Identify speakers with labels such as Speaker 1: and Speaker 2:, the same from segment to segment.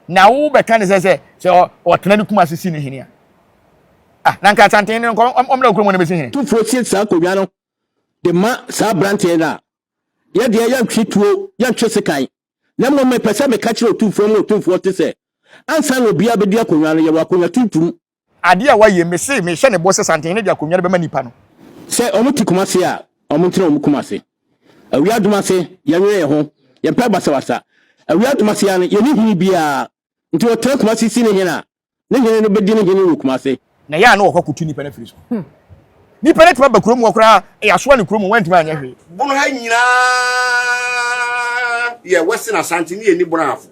Speaker 1: Na wo bɛka ne sɛ sɛ sɛ ɔtena ne kuma se si ne hene a ah na nka santen no nkɔ ɔmmra okurom na bɛsi hene. Tu fo si saa akonnwa
Speaker 2: no de ma saa abranteɛ no a yɛ deɛ yɛntwe tuo yɛntwe sekan na mmom mepɛ sɛ meka kyerɛ otumfoɔ mu otumfoɔ te sɛ ansa na obiara bɛdi akonnwa no yɛwɔ akonnwa tuntum Ade a wayɛ
Speaker 1: me se mehyɛ ne bɔ sɛ santen no de akonnwa no bɛma nnipa no. Sɛ wɔn te koma
Speaker 2: ase a, wɔn ntena wɔn koma ase. Awia adum ase, yɛnwene yɛn ho, yɛn pɛ basabasa. Awia adum ase ara no, yɛnni hene biara. Nti ɔtena koma ase si ne hene a, ne hene no bɛdi ne hene wɔ koma ase. Na ɛyɛ a na wɔkɔ kɔtu
Speaker 1: nnipa no afiri so. Nnipa no atumi aba kurom hɔ koraa, yɛasoa no kurom hɔ, wɔantumi anyɛ hwee. Bono ha nyinaa
Speaker 3: yɛ Western Asante ne yɛnni Bono ahafo.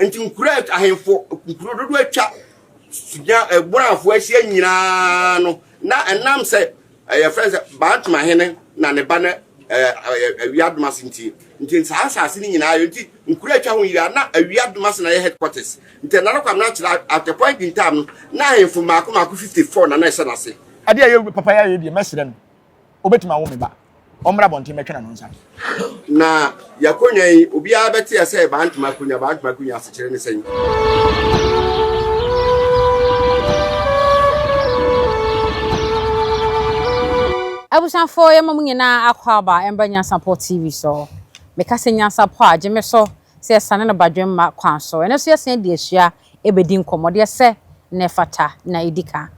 Speaker 3: Nti nkuro a ahemfo nkuro dodoɔ atwa sunya ɛbɔnafo eh, ahyia nyinaa no na ɛnam sɛ ɛyɛ eh, fɛn sɛ bantama hene na ne ba no eh, awia domase nti nti saa asase no nyinaa yɛ nti nkuro atwa ho nyinaa na awia domase na yɛ headquarters nti ɛna no kwam na akyerɛ at the point in time no na ahemfo mmaako mmaako 54 na na ɛhyɛ n'ase. adeɛ a yɛ papa yɛ ayɛ
Speaker 1: deɛ mɛsrɛ no Wobɛtumi awo me ba. Ɔmmra abɔnten mmɛtwe n'ano nsa. Na
Speaker 3: yɛakonnwa yi, obiara bɛteɛ sɛ ɛbaa ntoma akonnwa, baa ntoma akonnwa asekyerɛ ne sɛn?
Speaker 4: Abusuafo yɛma mo nyinaa akwaaba mbra Nyansapɔ TV so. Meka sɛ Nyansapɔ a gye me so sɛ yɛsane no badwemma kwan so. Ɛno nso yɛsan de asua bɛdi nkɔmmɔ deɛ sɛ na ɛfata na ɛdi ka.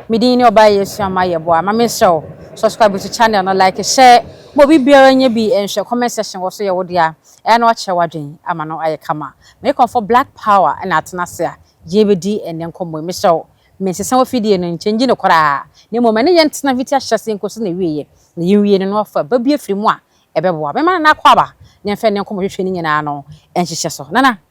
Speaker 4: Me din ne Ɔbaa Yesu Ammah Yeboah ma me srɛ wo subscribe to channel no like hyɛ ma obi biara nyɛ bi nhwɛ comment section wɔ so yɛ wo dea ɛyɛ na wakyerɛ wadwen ama no ayɛ kama me kɔmfo black power na atena ase a yɛ bɛdi ɛnɛ nkɔmmɔ yi me srɛ wo me nsesa wɔ fidie no nkyɛ ngyi no koraa na mmom ɛne yɛ ntena fiti ahyɛseɛ nkosi na wieɛ na yɛ nwie no na wafa ba bi afiri mu a ɛbɛboa bɛma no na akɔ aba na mfɛ ne nkɔmmɔ hwehwɛ ne nyinaa no nhyehyɛ so nana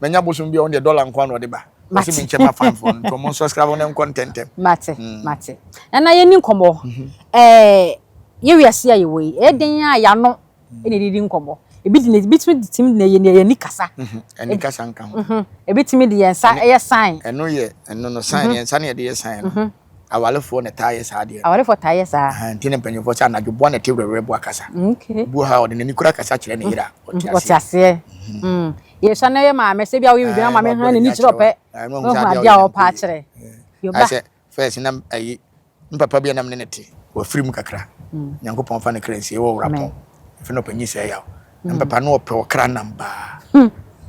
Speaker 1: manya bosom bi a ɔno deɛ dɔla nko na ɔde ba ɔsi mi nkyɛn ma fan fɔn nti ɔmo nsɔskrabɔ ne nkɔ ntɛntɛm. mate mm. mate
Speaker 4: nana yɛ ni nkɔmɔ ɛɛ mhm. eh, yɛ wiase a yɛwɔ yi ɛyɛ mhm. den a yano mhm. ɛna ɛdidi nkɔmɔ ebi di na ebi tumi di timi na yɛ na yɛ ni kasa. ɛni kasa nka
Speaker 1: ho. ebi tumi di yɛn nsa
Speaker 4: ɛyɛ sign. ɛno yɛ ɛno no
Speaker 1: sign yɛn nsa na yɛde yɛ sign no. Awarefoɔ na taa yɛ saa adeɛ no. Awarefoɔ taa yɛ saa. Ahan
Speaker 4: nti na mpanyinfoɔ sɛ anadwo
Speaker 1: boa na ɛte werɛwerɛ boa kasa. Okay. Buo ha ɔde
Speaker 4: n'ani kura
Speaker 1: kasa kyerɛ ne yere a ɔte aseɛ. Ɔte aseɛ.
Speaker 4: Mm. Yɛsua na yɛ maame sɛ bi a woyɛ biribi na maame han n'ani kyerɛ ɔpɛ. Ɔhu adeɛ a ɔpɛ akyerɛ. Yoba. Sɛ first na ayi
Speaker 1: mpapa bi a nam ne ne te wɔ afiri mu kakra. Nyankopɔn fa ne kra nsie wɔ wura pɔn. Efi na ɔpanyin sɛ yaw. na papa no ɔpɛ ɔkra nam baa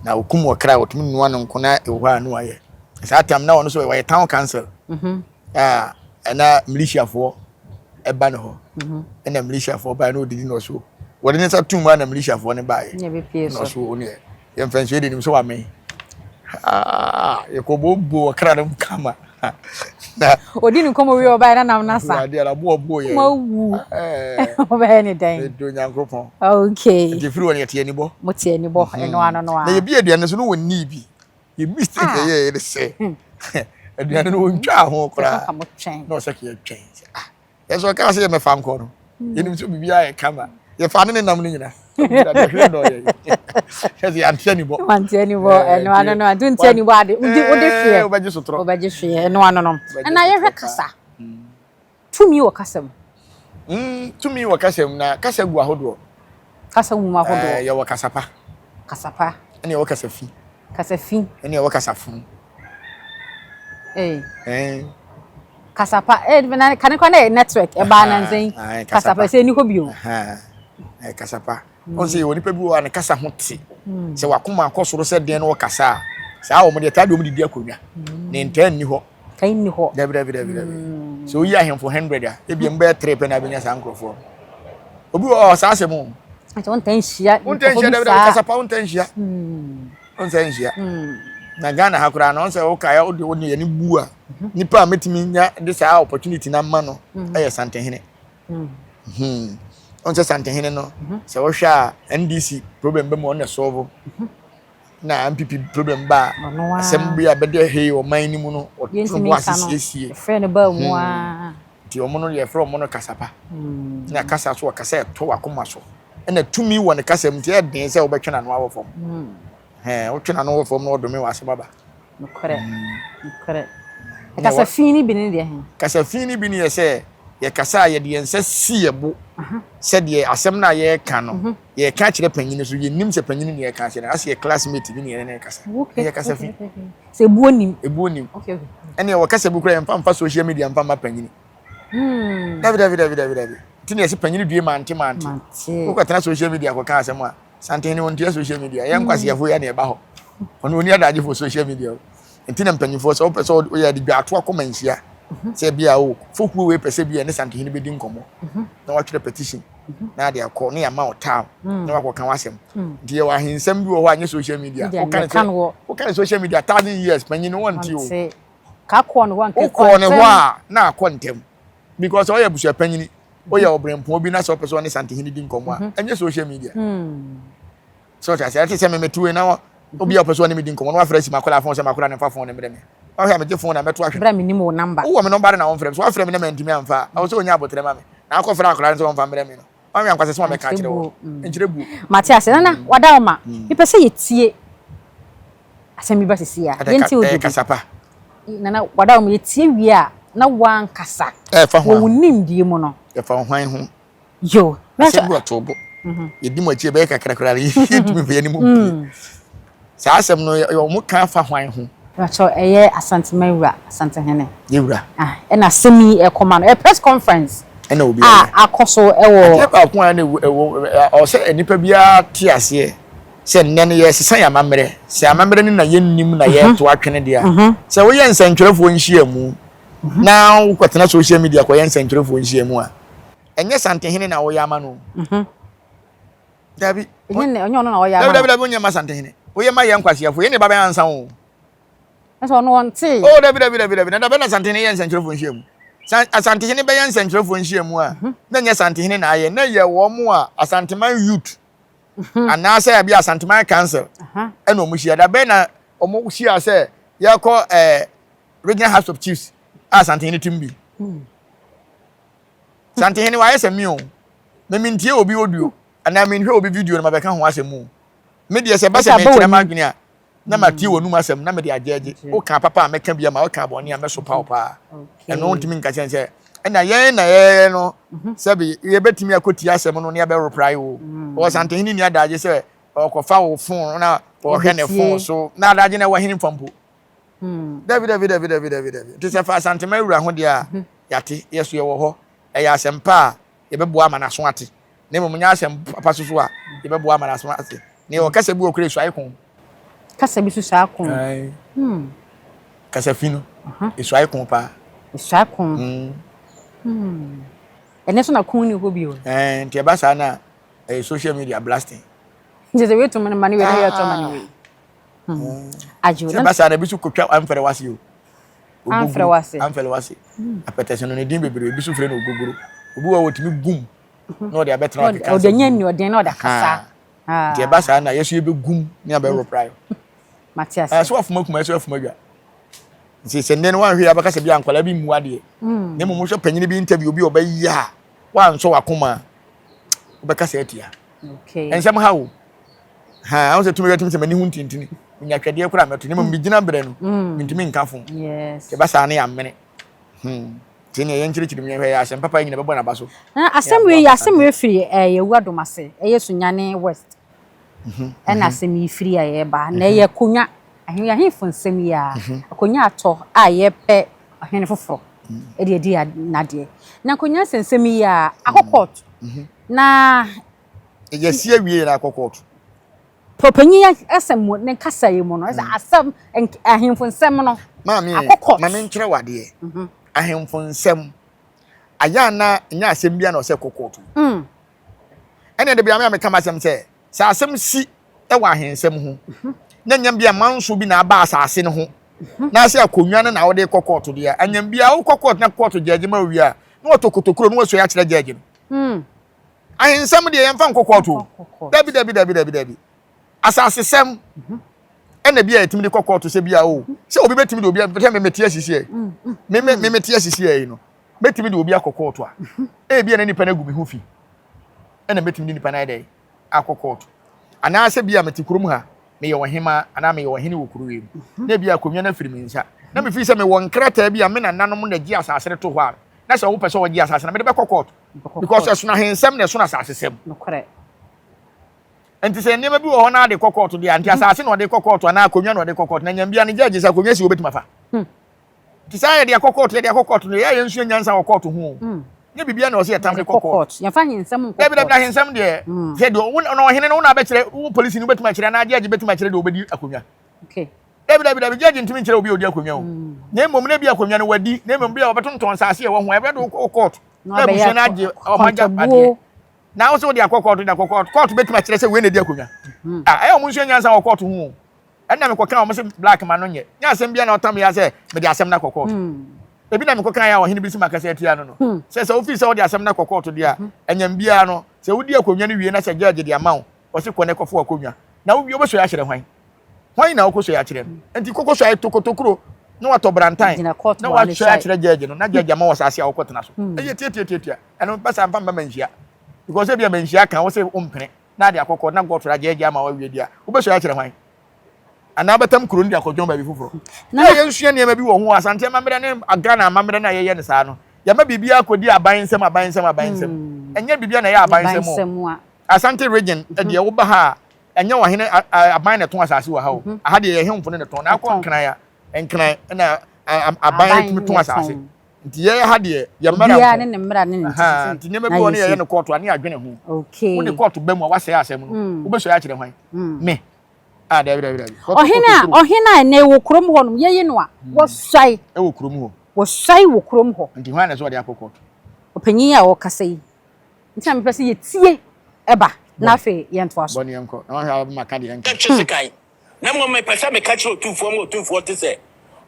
Speaker 1: na okum ɔkra ɔtumi nua no nko na ɛwɔ hɔ a na wayɛ saa tam na ɔno nso wɔyɛ town council mhm. a ɛna militiafoɔ ɛba ne hɔ mhm. ɛna militiafoɔ baa na ɔdidi na ɔso wɔde ne nsa tum a na militiafoɔ no baeɛ na ɔso wɔn yɛ yɛn mfɛnsuo de nim sɛ wame yɛkɔ bobo ɔkra no kama na ɔdi ne nkɔmmɔ wie
Speaker 4: ɔbaeɛ na nam no asa awurade ara boɔ boɔ yɛ ma
Speaker 1: wu
Speaker 4: wobɛyɛ ne dɛn ɛdɔ nyankoropɔn
Speaker 1: okay ɛde
Speaker 4: firi wɔ no yɛte anibɔ
Speaker 1: mo te anibɔ mhm. ɛno
Speaker 4: ano no a na yɛbi aduane so no
Speaker 1: wɔnnii bi yɛ mistake ah. ɛyɛ yɛ de sɛ hmm. aduane no wɔntwaa ho koraa na ɔsɛ kɛ yɛtwɛn sɛ ah Yɛsɛ ɔkaa sɛ yɛmɛfa nkɔ no. Yɛnim sɛ biribiara yɛ kama. Yɛfa ne ne nam no nyina. Awurade hwere dɔ yɛ. Yɛsɛ yɛante anibɔ. Wante anibɔ. Ɛno ano
Speaker 4: no ante nte anibɔ ade. Wode wode hweɛ. Wobɛgye sotorɔ. Wobɛgye
Speaker 1: hweɛ. Ɛno ano
Speaker 4: no. Ɛna yɛhwɛ kasa.
Speaker 1: Tumi wɔ
Speaker 4: kasa
Speaker 1: mu. Tumi
Speaker 4: wɔ
Speaker 1: kasa mu na kasa gu ahodoɔ. Kasa
Speaker 4: gu ahodoɔ. Yɛwɔ kasa pa.
Speaker 1: Kasa pa.
Speaker 4: Ɛna yɛwɔ kasa fi.
Speaker 1: Kasa fi.
Speaker 4: Ɛna yɛwɔ kasa funu.
Speaker 1: Hey.
Speaker 4: Eh. Kasapa, eh, na kane kwa na network, eh, ba na nzen. Ah, kasapa, se ni hobio. Ha. Eh,
Speaker 1: kasapa. Mm. Onse, oni pebi wa ne kasa hote. Mm. Se wakuma akosoro se den no kasa. Se awo mo de tadi omo didi akonya. Mm. Ne nten ni ho. Kai ni ho. Dabi, dabi,
Speaker 4: dabi, dabi. Mm.
Speaker 1: So, oyi ahemfo 100 a, ebi mm. mbe tre pe na benya sa nkrofo. Obi o, sa asemu. Nti wontan hyia
Speaker 4: wontan hyia dɛbɛ dɛbɛ
Speaker 1: kasapa wontan hyia. ɔnsɛ nhyia na ghana ha koraa no ɔnsɛ wokae wode wo ne yɛne bu a mhm. nipa a mɛtumi nya de saa opportunity no ama no mhm. ɛyɛ santehene mhm. ɔnsɛ santehene no sɛ wohwɛ a ndc problem bɛ mu ɔne sɔvo na mpp problem ba a asɛm bi a bɛde hei ɔman no mu no ɔtoro bo ase siesie
Speaker 4: nti ɔmo no yɛfrɛ
Speaker 1: ɔmo no kasapa na kasa so ɔkasa ɛto wakoma so ɛna tumi wɔ ne kasa mu nti ɛyɛ den sɛ wobɛtwe n'ano awɔ fam hmm. wotwe n'ano wɔ fam na ɔdome wɔ asɛm aba nokorɛ hmm. nokorɛ
Speaker 4: kasa fi no bi ne deɛ he kasa fi no bi ne yɛ
Speaker 1: sɛ yɛkasa a yɛde yɛn nsa si yɛ bo sɛdeɛ asɛm no a yɛreka no mhm. yɛreka kyerɛ panyini so yɛnim sɛ panyini ne yɛka kyerɛ no asɛ yɛ classmate bi ne yɛne ne kasa ɛyɛ kasa fi sɛ ɛbuo nim
Speaker 4: ɛbuo nim
Speaker 1: ɛne ɛwɔ kasa bi kora yɛmfa mfa social media mfa ma panyini hmm. dabi dabi dabi dabi dabi ti na yɛsi panyin due mante mante wokɔ tena social media kɔ kan asɛm a santen ne wɔn tia social media yɛn nkwasiafo hmm. yɛ na ɛba hɔ wɔn oni adagye fo social media o nti na mpanyinfoɔ sɛ wɔpɛ sɛ wɔyɛ adi dwa ato akɔma nhyia mhm. sɛ bi a o oh, fokuo wei pɛ sɛ bi a ne santen ne bɛdi nkɔmɔ mhm. na wɔatwerɛ petition mhm. na ade akɔ ne yɛama ɔtaa hmm. na wakɔ kan asɛm hmm. nti yɛwɔ ahensɛm bi wɔ hɔ a nyɛ social media wokan ne social media thousand years panyin ne wɔn ti o.
Speaker 4: Wokɔɔ ne hɔ a,
Speaker 1: na akɔ ntɛm because ɔyɛ abusuapanyini, woyɛ ɔbrɛmpɔn bi na sɛ ɔpɛ sɛ ɔne Santehene di nkɔmmɔ a, ɛnyɛ mhm. social media. Hmm. So ɔte ase, ɛte sɛ me metewe na obi a ɔpɛ sɛ ɔne me di nkɔmmɔ na wafrɛ si makɔla fon sɛ makɔla ne mfa fon ne mmerɛ me. Ɔhwɛ a megye fon na mɛto ahwɛ. Brɛ me nim wo namba. Wowɔ me
Speaker 4: nɔmba de na wɔmfrɛ me. So
Speaker 1: wafrɛ me na mantumi amfa a, ɛwɔ sɛ ɔnya abotrɛ ma me. Na akɔfrɛ akɔla no sɛ ɔmfa mmerɛ me no. Wanwea nkwasɛ sɛ wabɛka akyerɛ wo. Nkyerɛ buo. Mate ase. Nana, wada
Speaker 4: wo ma. Mepɛ sɛ yɛtie asɛm bi ba sisi a. Yɛntie wo dede. Kasa pa.
Speaker 1: Nana,
Speaker 4: wada wo ma. Yɛtie wie a, na woankasa. Ɛfa ho a. Wɔ wo
Speaker 1: nimdeɛ mu no.
Speaker 4: Ɛfa wo hwan ho.
Speaker 1: Yo.
Speaker 4: Asɛm bi ɔtoo
Speaker 1: bo. Yɛdi mo akyi ɛbɛyɛ kakra koraa no, yɛntumi mfa yɛn anim mpue. Saa asɛm no, wɔka fa hwan ho? Mepakyɛw, ɛyɛ
Speaker 4: Asante man wura, Asante hene. Yɛ wura. Ah,
Speaker 1: ɛna asɛm
Speaker 4: yi ɛkɔma no, ɛyɛ press conference. Ɛna obi a
Speaker 1: akɔ so ɛwɔ.
Speaker 4: Adeɛ baako a ɛna ɛwɔ,
Speaker 1: ɛwɔ sɛ nipa biara te aseɛ sɛ nnɛ no yɛresesa yɛn amammerɛ. Sɛ amammerɛ no na yɛnnim na yɛreto atwene deɛ a, sɛ woyɛ nsɛntwerɛfoɔ nhyiamu na wokɔtena social media kɔyɛ nsɛntwerɛfoɔ nhyiamu a, ɛnyɛ Santehene na woyɛ ama no. dabi ɛnyɛ ɔnyɛ
Speaker 4: ɔno na ɔyɛ ama dabi dabi dabi onyɛ ma santehene
Speaker 1: oyɛ ma yɛ nkwasiafo yɛ ne ba bɛn ansa o ɛsɛ ɔno ɔnte
Speaker 4: o dabi dabi dabi dabi na
Speaker 1: dabi na santehene yɛ nsɛnkyerɛfo nhyia mu san asantehene bɛyɛ nsɛnkyerɛfo nhyia mu a mhm. na nyɛ santehene na ayɛ na yɛ wɔn mu a asanteman youth mhm. anaasɛ abi asanteman council ɛna wɔn hyia dabi na wɔn hyia sɛ yɛkɔ ɛɛ eh, regional house of chiefs a asantehene tim bi. Hmm. Santehene wayɛ sɛ me o, me mentie obi audio anaa menhwɛ obi video na mabɛka ho asɛm o. Me deɛ sɛ ɛba sɛ merekyerɛ m'adwene a, na matie w'anom asɛm na mede agyɛɛgye. Wokaa papa a mɛka bi ama, wokaa bɔne a mɛsopa wo paa. Ɛno wontumi nka kyɛn sɛ ɛna yɛn na yɛyɛ no sɛbe yɛbɛtumi akɔtie asɛm no na yɛbɛreprae o. Ɔwɔ Santehene nni adagye sɛ ɔkɔfa wo fon na ɔhwɛ ne fon so. Na adagye no ɛwɔ henfa mpo? Dabi, dabi, dabi, dabi, dabi, dabi. Nti sɛ fa Asantema awura ho deɛ a, yɛate, yɛ so yɛwɔ hɔ. Ɛyɛ asɛm pa a, yɛbɛboa ama no aso ate. Na mmom nyɛ asɛm papa so so a, yɛbɛboa ama no aso ate. Na yɛwɔ kasa bi wɔ kora ɛsuae ko. Kasa bi
Speaker 4: so suae ko. Kasa
Speaker 1: fi no, ɛsuae ko paa. Ɛsuae ko.
Speaker 4: Ɛnɛ nso na ko ni hɔ bio. Nti ɛba saa na
Speaker 1: ɛyɛ social media blasting. Nti sɛ wei to
Speaker 4: ma no ma no wei na yɛtɔ ma no wei. adwo sɛ basa na bi so kɔtwa
Speaker 1: amfɛrɛ wase o amfɛrɛ
Speaker 4: wase amfɛrɛ wase
Speaker 1: apɛtɛsɛ no ne din bebree bi so frɛ no ogogoro obi wɔ wɔtumi gum na ɔde abɛtena ɔde kansa ɔde nyɛ nnuɔden na ɔde
Speaker 4: akasa nti ɛba saa
Speaker 1: na yɛso yɛbɛgum ne abɛworo pra yo mate
Speaker 4: ase ɛso afoma kuma ɛso
Speaker 1: afoma dwa nti sɛ nnɛ no wanhwɛ abɛka sɛ bi a nkwalaa bi mmu adeɛ na mmom wohwɛ panyini bi interview bi ɔbɛyɛ a wansɔ wakoma wobɛka sɛ atia ɛnsɛm ha
Speaker 4: o
Speaker 1: Ha, ahun sɛ tumi bɛ tumi sɛ m'ani ho ntintini. Minya twɛdeɛ koraa mɛto, na mmom mm. megyina berɛ no, mm. mentumi nka fo. Sɛ ɛba
Speaker 4: saa
Speaker 1: no yɛ amene. Hmm. Sɛ nea yɛnkyerɛkyerɛ mu yɛhwɛ yɛ asɛm papa yi nyina bɛbɔ n'aba so. Na asɛm wei yɛ
Speaker 4: asɛm wei firi eh, yɛwu adom ase, ɛyɛ Sunyane West. Mhm, ɛna mhm. asɛm yi firi a yɛreba. Na mhm. ɛyɛ akonnwa, ahemfo nsɛm yi a, akonnwa atɔ a yɛpɛ ɔhene foforɔ ɛde adi n'adeɛ. Na akonnwa nsɛnsɛm yi a, akɔ kɔɔto. Na
Speaker 1: Yɛasi awie yɛn akɔ court. Pɔpanyin
Speaker 4: asɛm mu ne kasa yi mu no, ɛsɛ mm. asɛm ahemfo nsɛm no. Maame akɔ court. Maame
Speaker 1: nkyerɛ wadeɛ. Mhm. Ahemfo nsɛm. Ayɛ ana nyɛ asɛm bi na ɔsɛ kɔ court. Mm. Ɛnna de bi ame a meka m'asɛm sɛ sɛ asɛm si wɔ ahensɛm ho mhm. na nyɛ bi amanso bi na aba asase no ho mhm. na sɛ akonnwa no na wode kɔ court deɛ anyam bi a wokɔ court na court gyɛgye ma owie a na wɔtɔ kotokuro na wɔsua akyerɛ gyɛgye no. Mm. Ahensɛm deɛ yɛmfa nkɔkɔɔto o. Yɛmfa kɔkɔɔto. Dabi dabi dabi dabi dabi. Asasesɛm ɛna bi a yɛtumi de kɔkɔɔto sɛ bi a o sɛ obi bɛtumi de obi a sɛ meme te asisi ɛ meme meme te asisi ɛ yi no mɛtumi de obi akɔkɔɔto a ebi a na nipa no agu me ho fi ɛna mɛtumi de nipa no ayɛ dɛ akɔkɔɔto anaasɛ bi a mete kurom ha meyɛ ɔhemaa anaa meyɛ ɔhene wɔ kuro wei mu na ebi a akonnwa no afiri me nsa na mefiri sɛ mewɔ nkrataa bi a me nananom na gye asase no to hɔ a na sɛ wɔpɛ sɛ wɔgye asase no mede bɛkɔ kɔɔto because ɛsono ahensɛm na ɛsono asasesɛm nti sɛ nneɛma bi wɔ hɔ na ade kɔ kɔɔto deɛ nti asase na ɔde kɔ kɔɔto anaa akonnwa na ɔde kɔ kɔɔto na nyambia ne gyɛgye sɛ akonnwa si wɔbɛtumi afa hmm. nti saa yɛde akɔ kɔɔto yɛde akɔ kɔɔto no yɛyɛ nsua nyansa wɔ kɔɔto ho hmm. ne biribiara na ɔsɛ yɛtam de kɔ kɔɔto yɛmfa ahensɛm nkɔ kɔɔto
Speaker 4: dabi ahensɛm deɛ
Speaker 1: hmm. sɛ deɛ ɔhene no wona abɛkyerɛ wo polisi no wobɛtumi akyerɛ anaa gyɛgye bɛtumi akyerɛ deɛ ɔbɛdi akonnwa
Speaker 4: dabi dabi dabi gyɛgye
Speaker 1: ntumi nkyerɛ obi a ɔdi akonnwa o mm. na mmom na ebi akonnwa no wadi na mmom bi a wɔbɛtontɔn nsaase ɛwɔ ho ɛbɛ do kɔ kɔɔto na abusua no agye ɔmo agya adeɛ na ahosuo wɔde akɔ kɔɔto de akɔ kɔɔto kɔɔto bɛtumi akyerɛ sɛ wei na edi akonnwa mm. a ah, ɛyɛ ɔmo nsuo nyansa wɔ kɔɔto ho o ɛnna mekɔ kan ɔmo se black ma no nyɛ nyɛ asɛm bia na ɔtam yɛ sɛ mede asɛm no akɔ kɔɔto mm. ebi na mekɔ kan yɛ a ɔhene bi si ma kasa atia no no hmm. sɛ sɛ wofi sɛ wode asɛm no akɔ kɔɔto deɛ a ɛnyɛm hmm. biara no sɛ wodi akonnwa no wie na sɛ gyɛɛgye de ama wo Ɔse kɔ na kɔfow akonnwa na wowie wobɛsoɛ akyerɛ hwan? Hwan na wokɔsoɛ akyerɛ no? Enti kɔ kɔsoɛ tokotokuro na watɔ brantan Gyina court na hɔ ne wasɔe akyerɛ judge no na judge ama wo asase a wokɔtena so. Hmm. Ɛyɛ tiatiatiatia. Ɛno bɛ saa mfa mma manhyia. Because ebia manhyia ka wo se wompene na ade akɔ court na court ra judge ama wawie di a wobɛsoɛ akyerɛ hwan? Anaa bɛtam kuro no de akɔdwɔn baabi foforɔ. Na Yɛ yɛnsua nneɛma bi wɔ ho Asante amammerɛ ne Ghana amammerɛ no a yɛyɛ no saa no. Yɛma biribiara kɔdi aban nsam aban nsam aban nsam. Hmm. Ɛnyɛ biribiara na ɛyɛ aban nsam o. Bansɛm a. Asante region deɛ woba ha a, ɛnyɛ ɔhene aban na ɛtɔn asase wɔ ha o. Aha deɛ yɛhemfo no na ɛtɔn. Na akɔ nkran a, nkran na aban atumi tɔn asase. Nti yɛyɛ ha deɛ yɛ mmara nko. ne ne mmara ne ne nti.
Speaker 4: Nti nneɛma bi wɔ ne
Speaker 1: yɛyɛ no kɔɔto a ne yɛadwene ho. Wode kɔɔto ba mu a
Speaker 4: wasɛe
Speaker 1: asɛm no. Wobɛsɔe akyerɛ hwan? Me. Ah, dabi dabi dabi. Ɔhene a ɔhene
Speaker 4: a ɛnɛ wɔ kurom hɔ nom yɛyi no a wɔsɔe. Ɛwɔ kurom hɔ.
Speaker 1: Wɔsɔe wɔ kurom
Speaker 4: hɔ. Nti hwan na ɛsɛ ɔde akɔ kɔɔto?
Speaker 1: Ɔpanyin
Speaker 4: a ɔkasa yi. Nti na mepɛ sɛ yɛtie ɛba na afei yɛntoa so. Bɔ ne yɛnkɔ na wahwɛ a wobɛma ka
Speaker 1: deɛ yɛnka. Ɛnte sekan,
Speaker 2: na mmom mepɛ sɛ meka kyerɛ Otumfoɔ ma Otumfoɔ te sɛ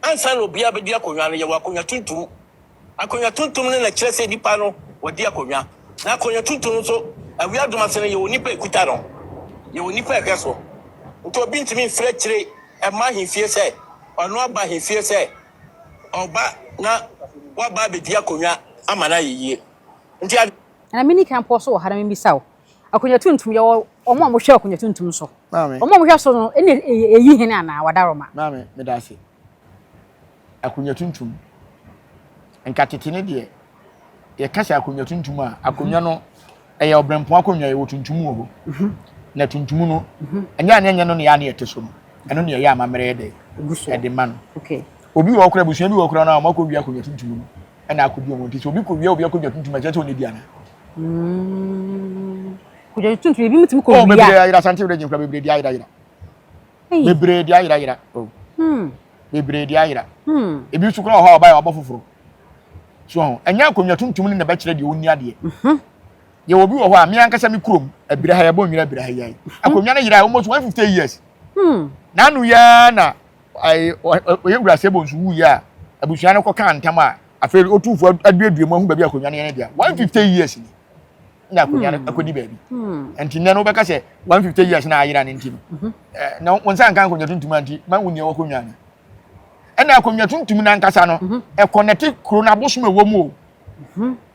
Speaker 2: ansa na obiara bɛdi akonnwa no, yɛwɔ akonnwa tuntum. Akonnwa tuntum no na ɛkyerɛ sɛ nnipa no wɔadi akonnwa. Na akonnwa tuntum no nso, awia adum ase no, yɛwɔ nnipa a ɛkuta no, yɛwɔ nnipa a ɛhwɛ so. Nti obi ntumi mfiri akyire mma ahemfie sɛ ɔno aba ahemfie sɛ ɔba na waba abɛdi akonnwa ama no ayɛ yie. Nti adwen. Na mini kan
Speaker 4: pɔ so wɔ ha na mibisa wo, Akonwa tuntum, yɛwɔ wɔn a wɔhwɛ akonwa tuntum so. Maame. Wɔn a wɔhwɛ so no, ɛna ɛyi hene anaa wadaroma? Maame, meda ase.
Speaker 1: Akonwa tuntum, nka tete no deɛ, yɛka sɛ akonwa tuntum a, akonwa no ɛyɛ ɔbrɛmpɔn akonwa, yɛwɔ tuntum wɔ hɔ. Na tuntum no, ɛnyɛ a na ɛnyɛ no na yɛ a na yɛte so no. Ɛno na ɛyɛ amammerɛ yɛ dɛ, ɛde ma no. Obi wɔ
Speaker 4: hɔ koraa, abusua
Speaker 1: bi wɔ hɔ koraa no a, wɔakɔwie akonwa tuntum no. ɛna akɔdi wɔn nti sɛ obi kɔwia obi akɔdwa tuntum ɛkyɛ sɛ ɔnɛdi ana mm.
Speaker 4: kɔdwa tuntum ebi mutumi kɔwia oh, bebree ayera sante wura
Speaker 1: gyinkura bebree di ayera yera bebree di ayera yera oh. hmm. bebree di ayera hmm. ebi nso kora ɔhɔ a ɔba yɛ ɔbɔ foforɔ so ho ɛnyɛ akonnwa tuntum ne na bɛkyerɛ deɛ ɔnni adeɛ mhm. yɛ obi wɔ hɔ a me ankasa me kurom abira ha yɛbɔ nwira abira ha yɛn mhm. akonnwa no yera almost one fifty years hmm. n'ano yɛa na ɔyɛ Wura Sebonsu wuiɛ a, abusua no kɔkaa ntam a afei otumfoɔ aduadua mu ahu baabi akonnwa no yɛ no dea. 150 years ni na akonnwa no akɔdi baabi. Nti nnɛ no wobɛka sɛ 150 years na ayera no nti no, na wo nsa nka akonnwa tuntum a nti ma wonni ɛwɔ akonnwa no. Ɛna akonnwa tuntum no ankasa no, ɛkɔnɛte kuro no abosom ɛwɔ mu o.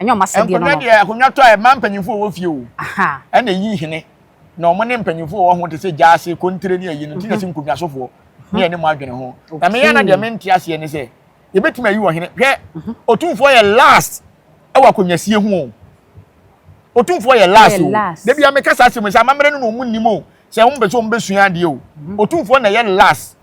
Speaker 4: Ɛnyɛ
Speaker 1: wɔn asɛdeɛ no.
Speaker 4: Nkonnwa deɛ akonnwa tɔ a ɛma
Speaker 1: mpanyinfoɔ a wɔwɔ fie o. Ɛna ɛyi hene na wɔn ne mpanyinfoɔ a wɔwɔ ho te sɛ gyaase, kontire ne ayi no nti na ɛsɛ nkonnwasofoɔ ne yɛne mo adwene ho. Na me ana deɛ mente aseɛ ne sɛ yɛbɛtumi ayi ɔhene. Hwɛ otumfoɔ yɛ last ɛwɔ akonnwasie ho o. Otumfoɔ yɛ last o. Da bia meka saa asɛm sɛ amammerɛ no na wɔn nim o. Sɛ wɔn pɛ sɛ wɔn bɛsua adeɛ o. Otumfoɔ na ɛyɛ last.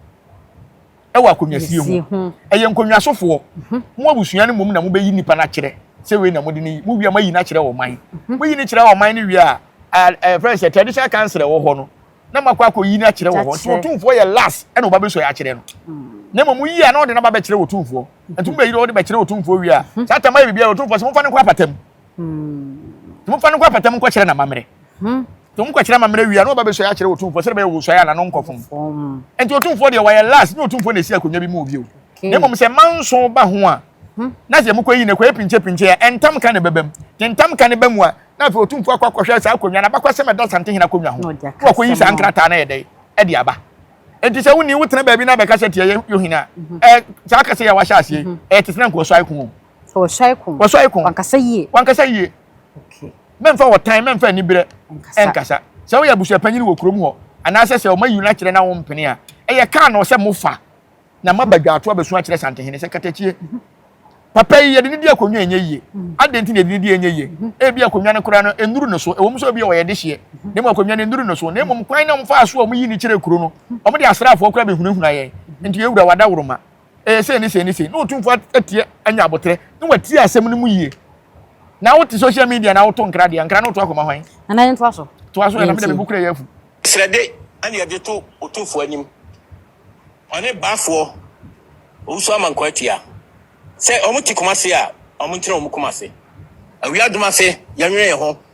Speaker 1: wɔ akonnwasie ho. Ɛyɛ nkonnwasofoɔ. Mhm. Mo abusua no mmom na mobɛyi nipa no akyerɛ sɛ wei na mode no yi. Mo wia moayi no akyerɛ ɔman. Mhm. Moyi no kyerɛ ɔman no wie a, ɛfrɛ sɛ traditional council ɛwɔ hɔ no na makɔ akɔyi no akyerɛ wɔ hɔ. Nti ɔtumfoɔ yɛ last ɛna ɔba bɛsɔ yɛ akyerɛ no. Mm. Na mmom woyi a na ɔde no aba bɛkyerɛ ɔtumfoɔ. Nti mobɛyi no ɔde bɛkyerɛ ɔtumfoɔ wie a, mhm. saa tam ayɛ biribiara ɔtumfoɔ sɛ momfa no nkɔ apatam. Mm. Nti momfa no nkɔ apatam nkɔkyerɛ n'amammerɛ. Mhm. Nti wɔn kɔkyerɛ amammerɛ wie a na wɔba bɛsuae akyerɛ otumfoɔ sɛdeɛ bɛyɛ wɔsuae a na no nkɔ fam. Nti otumfoɔ deɛ wɔyɛ last nyɛ otumfoɔ na ɛsi akonnwa bi mu bio. Na mmom sɛ mma nso ba ho a hmm. na sɛ mokɔyi no kɔyɛ pinkyɛpinkyɛ a ɛntam ka na ɛbɛba mu. Nti ntam ka no ba mu a na afei otumfoɔ akɔ akɔhwɛ saa akonnwa no abakɔsɛm ɛda Santehene akonnwa ho na wakɔyi saa nkrataa no yɛ dɛn ɛde aba. Nti sɛ wonni wotena baabi na abɛka sɛ tiɛ yohene a mhm. ɛ saa kasa yɛ wahyɛ aseɛ mhm. ɛyɛ te sena nka wɔsuae ko
Speaker 4: wɔsuae ko wankasa yie okay mɛmfa ɔtan mɛmfa aniberɛ ɛnkasa sɛ woyɛ abusuapanyin wɔ kurom hɔ anaasɛ sɛ ɔma yi no akyerɛ na wompene a ɛyɛ kaa na ɔsɛ mofa na moaba dwaato abɛsu akyerɛ santehene sɛ katakyie papa yi yɛde ne di akonnwa ɛnyɛ yie adɛn nti na yɛde ne di ɛnyɛ yie ebi akonnwa no koraa no ɛnuru no so ɛwɔ mu sɛ obi ɔyɛ dehyeɛ na mmom akonnwa no ɛnuru no so na mmom kwan na wɔmfaa so a wɔyi ne kyerɛ kuro no wɔde asraafoɔ koraa bɛhunahuna yɛn nti yɛwura wadaworoma ɛyɛ sei ne sei ne sei na otumfo atie anya aboterɛ na watie asɛm no mu yie na wote social media na woto nkra deɛ nkra no woto akɔma hwan nana yɛ ntoa so toa so yɛ na mede me bukura
Speaker 1: yɛ afu srɛde ɛne
Speaker 2: ɛde to otumfoɔ anim ɔne baafoɔ owusu amankwa atia sɛ wɔn te kumase a wɔn ntena wɔn kumase awia adum ase yɛnwene yɛn ho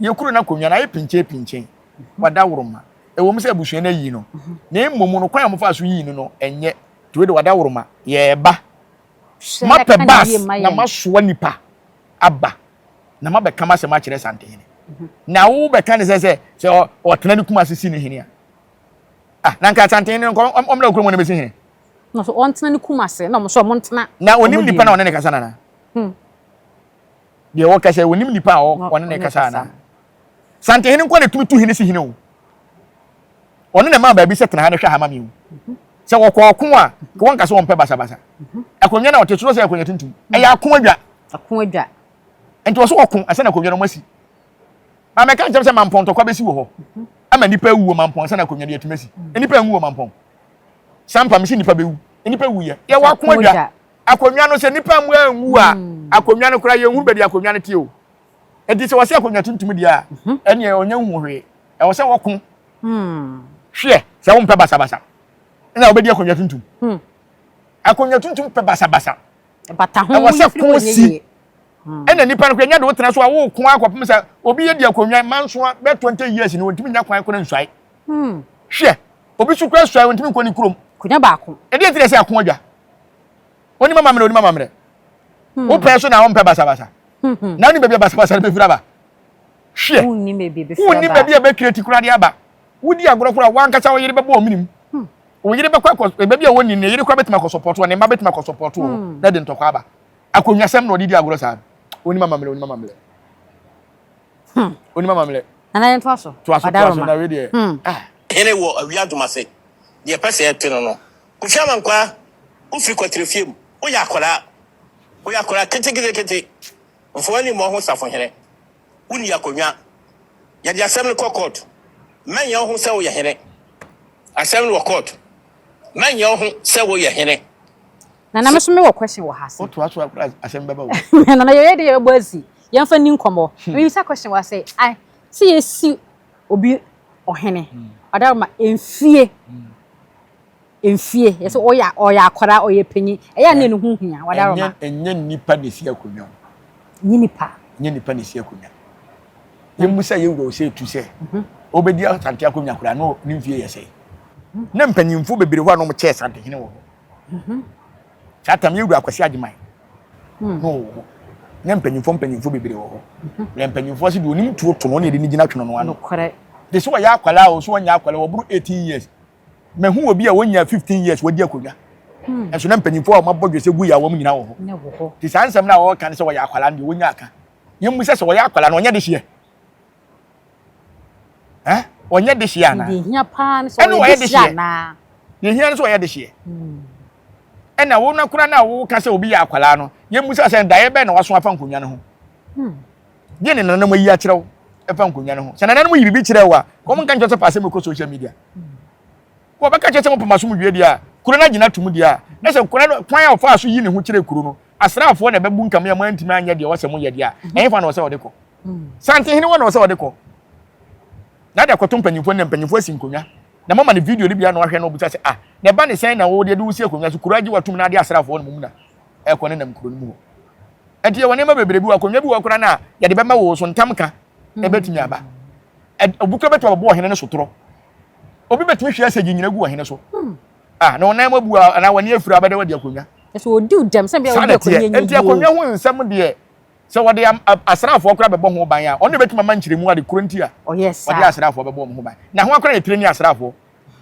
Speaker 1: Yɛn kunu no akonnwa no ayɛ pinkyenpinkyen. Wada woroma. Ɛwom sɛ abusua no ayi no, na mmom no, kwan a wɔfaa so yii no no nyɛ turo de wada woroma. Yɛreba. Mapɛ bus na masoa nnipa aba, na mabɛka m'asɛm akyerɛ Santehene. Na wobɛka ne sɛ sɛ sɛ ɔtena ne kuma ase si no hene a, ah, na anka Santehene no nka ɔmmra kurom hɔ na bɛsi hene. Na so ɔntena ne
Speaker 4: kuma ase na ɔmo so ɔmo ntena. Na onim nipa na ɔne ne
Speaker 1: kasa nana. Hmm. Deɛ ɔrekasa yi, ɔnim nipa a ɔne no rekasa anaa? Santehene nko na ɛtumi tu hene si hene o. Ɔno na ɛmaa baabi sɛ tena ha na hwɛ ha ma me o. Sɛ wɔkɔ ɔko a, wɔnka sɛ wɔmpɛ basabasa. Akonnwa no a ɔte so sɛ akonnwa tuntum. Ɛyɛ ako adwa. Ako adwa. Nti ɔso ɔko ansa na akonnwa no wɔasi. Maame ɛka nkyɛm sɛ mampɔn ntɔkwa bɛsi wɔ hɔ. Ama nnipa awu wɔ mampɔn ansa na akonnwa no yɛatumi asi. Nnipa anwu wɔ mampɔn. Sampa mesi nnipa bɛwu. Nnipa wuyɛ. Yɛwɔ ako adwa. akonnwa no sɛ nnipa mmoa anwu a akonnwa no koraa yɛnhunu baabi akonnwa no te o ɛnti sɛ wɔsɛ akonnwa tuntum deɛ a mhm. ɛneɛ ɔnyɛ nhu hwee ɛwɔ sɛ wɔko hmm. hweɛ sɛ wompɛ basabasa ɛna wobɛdi akonnwa tuntum hmm. akonnwa tuntum pɛ basabasa
Speaker 4: ɛwɔ sɛ ko si
Speaker 1: hmm. ɛna nipa no kora nya de wotena so a woko akɔpem sɛ obi yɛ di akonnwa mansoa bɛ 20 years no wɔntumi nya kwan kora nsuae Hmm. Hwɛ, obi so kura suae, ɔntumi nkɔ ne kurom. Konya baako. Ɛdeɛ
Speaker 4: nti na ɛsɛ ako adwa.
Speaker 1: Onim amammerɛ, onim amammerɛ. Hmm. Wopɛ so na ɔmpɛ basabasa. Hmm, hmm. Na wonim baabi a basabasa no bɛfiri aba. Hwɛ,
Speaker 4: wonim baabi a bɛkira ti
Speaker 1: koraa de aba. Wodi agorɔ koraa, wankasa wo yere bɛbɔ ɔmenim. Hmm. Wo yere bɛkɔ akɔ, eh, baabi a wɔnni no, ne yere koraa bɛtumi akɔ sɔpɔtoɔ, ne mma bɛtumi akɔ sɔpɔtoɔ, hmm. na de ntɔkwa aba. Akonnwasɛm na ɔde di agorɔ saa. Onim amammerɛ, onim amammerɛ. Hmm. Onima mamlɛ. Nana yɛn to aso.
Speaker 4: To aso to aso na wei deɛ. Hmm.
Speaker 1: Ah. Hene wɔ
Speaker 2: awia domase. Deɛ pɛ sɛ ɛte no no. Kofi Amankwaa, wofiri kɔtere fie mu. Woyɛ akwadaa. Woyɛ akwadaa ketekete. Mfa w'ani mmɔ ho safohene. Wonni akonnwa. Yɛde asɛm no kɔ court. Mɛnyɛ wo ho sɛ woyɛ hene. Asɛm no wɔ court. Mɛnyɛ wo ho sɛ woyɛ hene. Nana
Speaker 4: me so me wɔ question wɔ ha se. Wotoa so akora asɛm
Speaker 1: bɛba wo. Nana yɛyɛ de yɛbɛbɔ
Speaker 4: asi. Yɛmfa ni nkɔmmɔ. Hmm. Mebisa question wɔ ha sɛ ai sɛ yɛsi obi ɔhene hmm. ɔdaro ma mfie mfie hmm. yɛsɛ ɔyɛ ɔyɛ akɔra ɔyɛ panyin ɛyɛ a na ne ho hia wadaro ma. Ɛnyɛ nipa na esi
Speaker 1: akonnwa mu. Nye nipa. Nye nipa na esi akonnwa. Yɛmu sɛ yɛwura wo sɛ etu sɛ wobɛdi mhm. asante akonnwa koraa na ne mfie yɛ sɛ. Na mpanyimfo bebree hɔ a na wɔkyɛɛ santehene wɔ hɔ. Mhm. Saa tam yɛ wura Kwasi Agyeman hmm. na ɔwɔ hɔ. Na mpanyinfoɔ mpanyinfoɔ bebree wɔ hɔ. Mhm. Na mpanyinfoɔ si deɛ onim tuo to no ɔne ɛde ne gyina twene no ano. Nokorɛ. De sɛ ɔyɛ
Speaker 4: akwadaa
Speaker 1: o so ɔnyɛ akwadaa ɔboro eighteen years. Mɛhu obi a wɔnyɛ fifteen years wɔdi akonnwa. Hmm. Ɛso na mpanyinfoɔ a wɔabɔ dwesɛ gu yɛ a wɔn nyinaa wɔ hɔ. Te saa nsɛm
Speaker 4: no a wɔreka
Speaker 1: no
Speaker 4: sɛ wɔyɛ
Speaker 1: akwadaa no deɛ wɔnya aka. Yɛn mu sɛ sɛ wɔyɛ akwadaa no ɔnyɛ de hyeɛ. Ɛ? Ɔnyɛ dehyeɛ anaa? Deɛ hia paa no sɛ
Speaker 4: ɔyɛ dehyeɛ anaa? Deɛ hia no sɛ ɔyɛ
Speaker 1: dehyeɛ. Ɛna wo no koraa no a woka sɛ obi yɛ akwadaa no, yɛmmisa sɛ daeɛ bɛn na waso afa nkonnwa no ho. Deɛ ne nananom ayi akyerɛ wo ɛfa nkonnwa no ho. Sɛ nananom yi biribi kyerɛ wo a, wɔn nka nkyerɛ sɛ fa asɛm kɔ social media. Wɔbɛka kyerɛ sɛ mopɛ mo asomdwoeɛ deɛ a, kuro no agyina atom deɛ a, na sɛ kwan no, kwan a ɔfaa so yii ne ho kyerɛɛ kuro no asraafoɔ na ɛbɛbunkame a moantumi anyɛ deɛ ɔsɛ moyɛ deɛ a, ɛhefa na ɔsɛ ɔde kɔ? Santehene hɔ na ɔsɛ ɔde kɔ, na ade akɔto mpanimfoɔ anim, na mpanimfoɔ asi nkonnwa, na moama no video no bi a na wahwɛ na ɔbisa sɛ, Ah, na ɛba ne sɛn na wo deɛ de wosi akonnwa so, kuro agye wo atom na ade asraafoɔ no mmom na ɛrekɔ nenam kuro no mu hɔ. Ɛnti yɛwɔ nneɛma bebree bi wɔ hɔ, akonnwa bi wɔ hɔ koraa no a, yɛde bɛma wo, wo so ntamka bɛtumi aba. Obi koraa bɛtumi abɛbɔ ɔhene no sotorɔ, obi bɛtumi hwɛ sɛ gyingyina gu ɔhene so hmm. ah, na ɔnan mu abu anaa wɔne afiri abɛdɛ wɔde akonnwa ɛsɛ ɔdi dɛm sɛ
Speaker 4: bia wɔde akonnwa nyɛ nti akonnwa ho nsɛm
Speaker 1: deɛ sɛ wɔde asraafoɔ koraa bɛbɔ ho ban a ɔno bɛtumi ama nkyerɛmu ade koro nti a oh, wɔde asraafoɔ
Speaker 4: bɛbɔ wɔn ho
Speaker 1: ban na ho akora yɛ tire ne asraafoɔ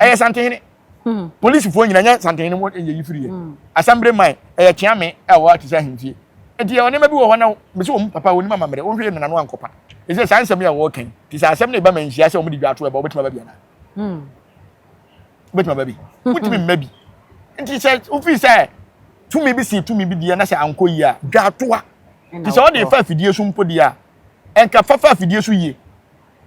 Speaker 1: ɛyɛ santehene hmm. polisifoɔ nyina nyɛ santehene mu ɛyɛ yi firi yɛ hmm. asambere man ɛyɛ kyeame a wɔate sɛ ahentie nti yɛ ɔnneɛma bi wɔ hɔ na bɛsɛ wɔn papa wɔn mu amammerɛ wɔn hwɛ yɛ nana no ankɔpa ɛsɛ saa nsɛm yi a wɔreka yi te sɛ asɛm no ɛba ma nhyia sɛ wɔde dwa ato ɛba wobɛtumi aba bi anaa hmm. wobɛtumi aba bi wotumi mma bi nti sɛ wofii sɛ tumi bi si tumi bi deɛ na sɛ ankɔ yie a dwa atoa nti sɛ wɔde fa afidie so mpo deɛ a ɛnka fa fa afidie so yie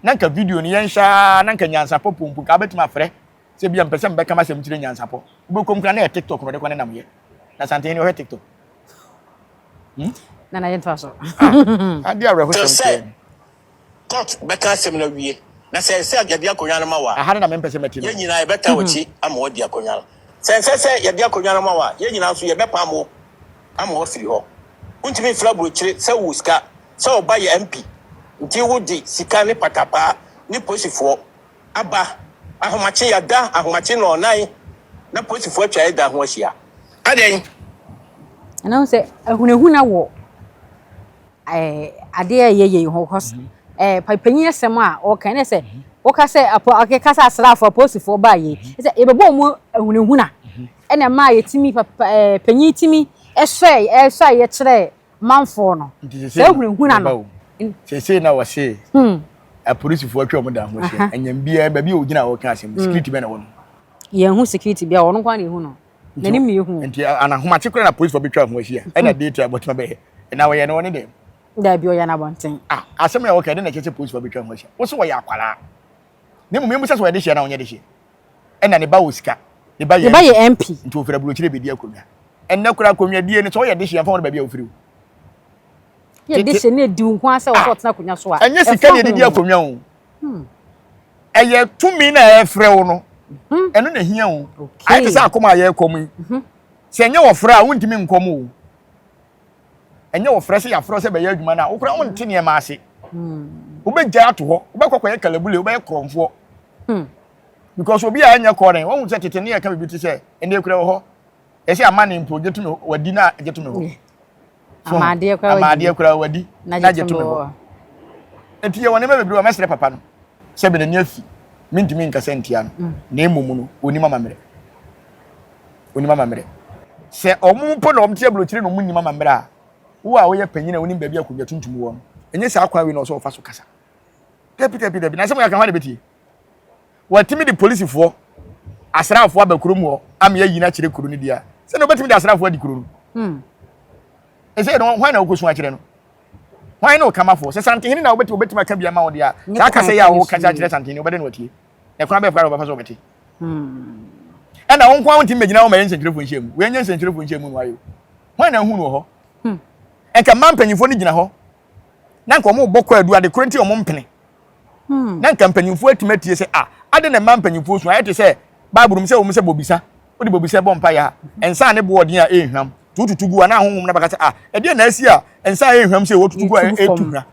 Speaker 1: na nka video no yɛnhyɛ a na nka nyansapɔ pompo nka wobɛtumi afrɛ sɛ bia mpɛ sɛ mbɛka masɛm kyerɛ nyansapɔ wobɛkɔm kora na yɛ tiktok mede kɔ ne nam yɛ na santen ni ɔhwɛ tiktok hmm?
Speaker 4: nana yɛ ntoa so ah, ade
Speaker 1: awerɛhosɛm kɛɛ court
Speaker 2: bɛka asɛm no awie na sɛ ɛsɛ yɛde akonnwa no ma wa aha no na mempɛ sɛ mɛte no yɛn
Speaker 1: nyinaa yɛbɛta wɔkyi
Speaker 2: mhm. ama wɔadi akonnwa no sɛ ɛsɛ sɛ yɛde akonnwa no ma wa yɛn nyinaa nso yɛbɛpa mo ama wɔafiri hɔ wontumi mfiri aburokyire sɛ wo sika sɛ ɔba yɛ mp nti wode sika ne patapaa ne posifoɔ aba ahomakye yɛada ahomakye nɔɔnan na polisifo atwa yɛ da ho ahyia adɛn.
Speaker 4: Ɛna sɛ ahunahuna wɔ eh, adeɛ a ɛyɛ yei ho because mhm. eh, panyin asɛm a ɔka ne sɛ mhm. woka sɛ akeka sɛ asraafoɔ apolisifoɔ baa yei mhm. sɛ yɛbɛbɔ mu ahunahuna ɛna ɛma yɛtumi eh, panyin tumi ɛsɔe ɛsɔe yɛkyerɛ manfoɔ no saa hunahuna no seesei na
Speaker 1: wɔse hmm. apolisifoɔ atwa wɔn dan ho ahyia ɛnyɛm biara baabi a wɔgyina a wɔka asɛm hmm. security bɛn na wɔ no yɛhu security
Speaker 4: biara wɔn kwan na ehu no n'anim na ehu nti anahomakye koraa na
Speaker 1: apolisifoɔ bɛtwa ho ahyia ɛna hmm. date a bɔtuma bɛyɛ na wɔyɛ no wɔne dɛm daabi ɔyɛ
Speaker 4: n'abɔnten ah, asɛm na wɔka ɛde
Speaker 1: na ɛkyɛ sɛ apolisifoɔ bɛtwa ho ahyia wɔso wɔyɛ akwaraa na mmom yɛn mu sɛ sɛ wɔyɛ de hyia na wɔnyɛ de hyia ɛna ne ba wɔ sika ne ba yɛ ne ba yɛ mp nti ofiri aburokyire
Speaker 4: bedi
Speaker 1: akonnwa ɛnɛ kora akonnwa die no sɛ ɔyɛ dehye yɛmfa wɔn baabi a ofiri o
Speaker 4: yɛ dehye ne ediw nko asɛ wɔsɛ ɔtena akonnwa so a ɛnyɛ sika ne edidi akonnwa
Speaker 1: o hmm. ɛyɛ tumi na ɛfrɛ wo no hmm. ɛno na ehia o ayɛ te sɛ akoma a yɛrekɔm yi hmm. sɛ ɛnyɛ wɔfrɛ a wontumi nkɔm o Ɛnyɛ ɔfrɛ sɛ yɛafrɛ sɛ bɛyɛ adwuma no a, wo koraa wonte nneɛma ase. Wobɛgyae ato hɔ, wobɛkɔ kɔyɛ kalabule, wobɛyɛ korɔmfoɔ. Hmm. Because obi a ɛnyɛ kɔɔrɛn, wahu sɛ tete ne yɛka biribi te sɛ, ɛnna ekura wɔ hɔ. Ɛsɛ amane mpo, gye to me hɔ, wadi na gye to me hɔ. Amaadeɛ koraa wadi. Amaadeɛ koraa wadi na gye to me hɔ. Enti yɛwɔ nneɛma bebree a mɛsrɛ papa no sɛ bɛnani afi, mentumi nkasa ntia no, na mmom no, ɔnim amammerɛ. wonim amammerɛ. Sɛ wɔn mpo na wɔte aburokyire na wɔnnim amammerɛ a, wo a woyɛ panyin a wonim baabi a akonnwa tuntum wɔ no, ɛnyɛ saa kwan wei na ɔsɛ ɔfa so kasa? Dabi, dabi, dabi, n'asɛm kakra hwan na ɛbɛtie? Wɔatumi de polisifoɔ, asraafoɔ aba kuro mu hɔ ama yɛayi no akyerɛ kuro no di a, sɛ na wɔbɛtumi de asraafoɔ adi kuro no. Hmm. Ɛsɛ no, hwan na wokɔsu akyerɛ no? Hwan ne ɔkamafoɔ? Sɛ santehene na wobɛtumi aka bi ama wo deɛ a, saa kasa yi a wokasa akyerɛ santehene, wobɛdɛ na watie. Ɛkwan bɛn koraa na wɔbɛfa so wɔbɛte? Ɛna wo nko ara wontumi mmegyina hɔ mmɛyɛ nsɛnkyerɛfoɔ nhyiamu. Wei nyɛ nsɛnkyerɛfoɔ nhyiamu no ayɛ o. Hwan na ahu no wɔ hɔ? Nka mmaa mpanyinfoɔ no gyina hɔ na nka wɔrebɔ kwaadu ade koro nti wɔmpene. Na nka mpanyinfoɔ atumi atie sɛ a ade na mmaa mpanyinfoɔ su ayɛ te sɛ Bible mu sɛ wɔn sɛ bobisa wode bobisa bɔ mpaeɛ a nsa a ne boɔ ɔden a ɛnhwam nti wotutu gu a na ahonhom no bɛka sɛ a ɛdeɛ na asi a nsa a ɛnhwam sɛ wɔtutu gu a ɛtu hwa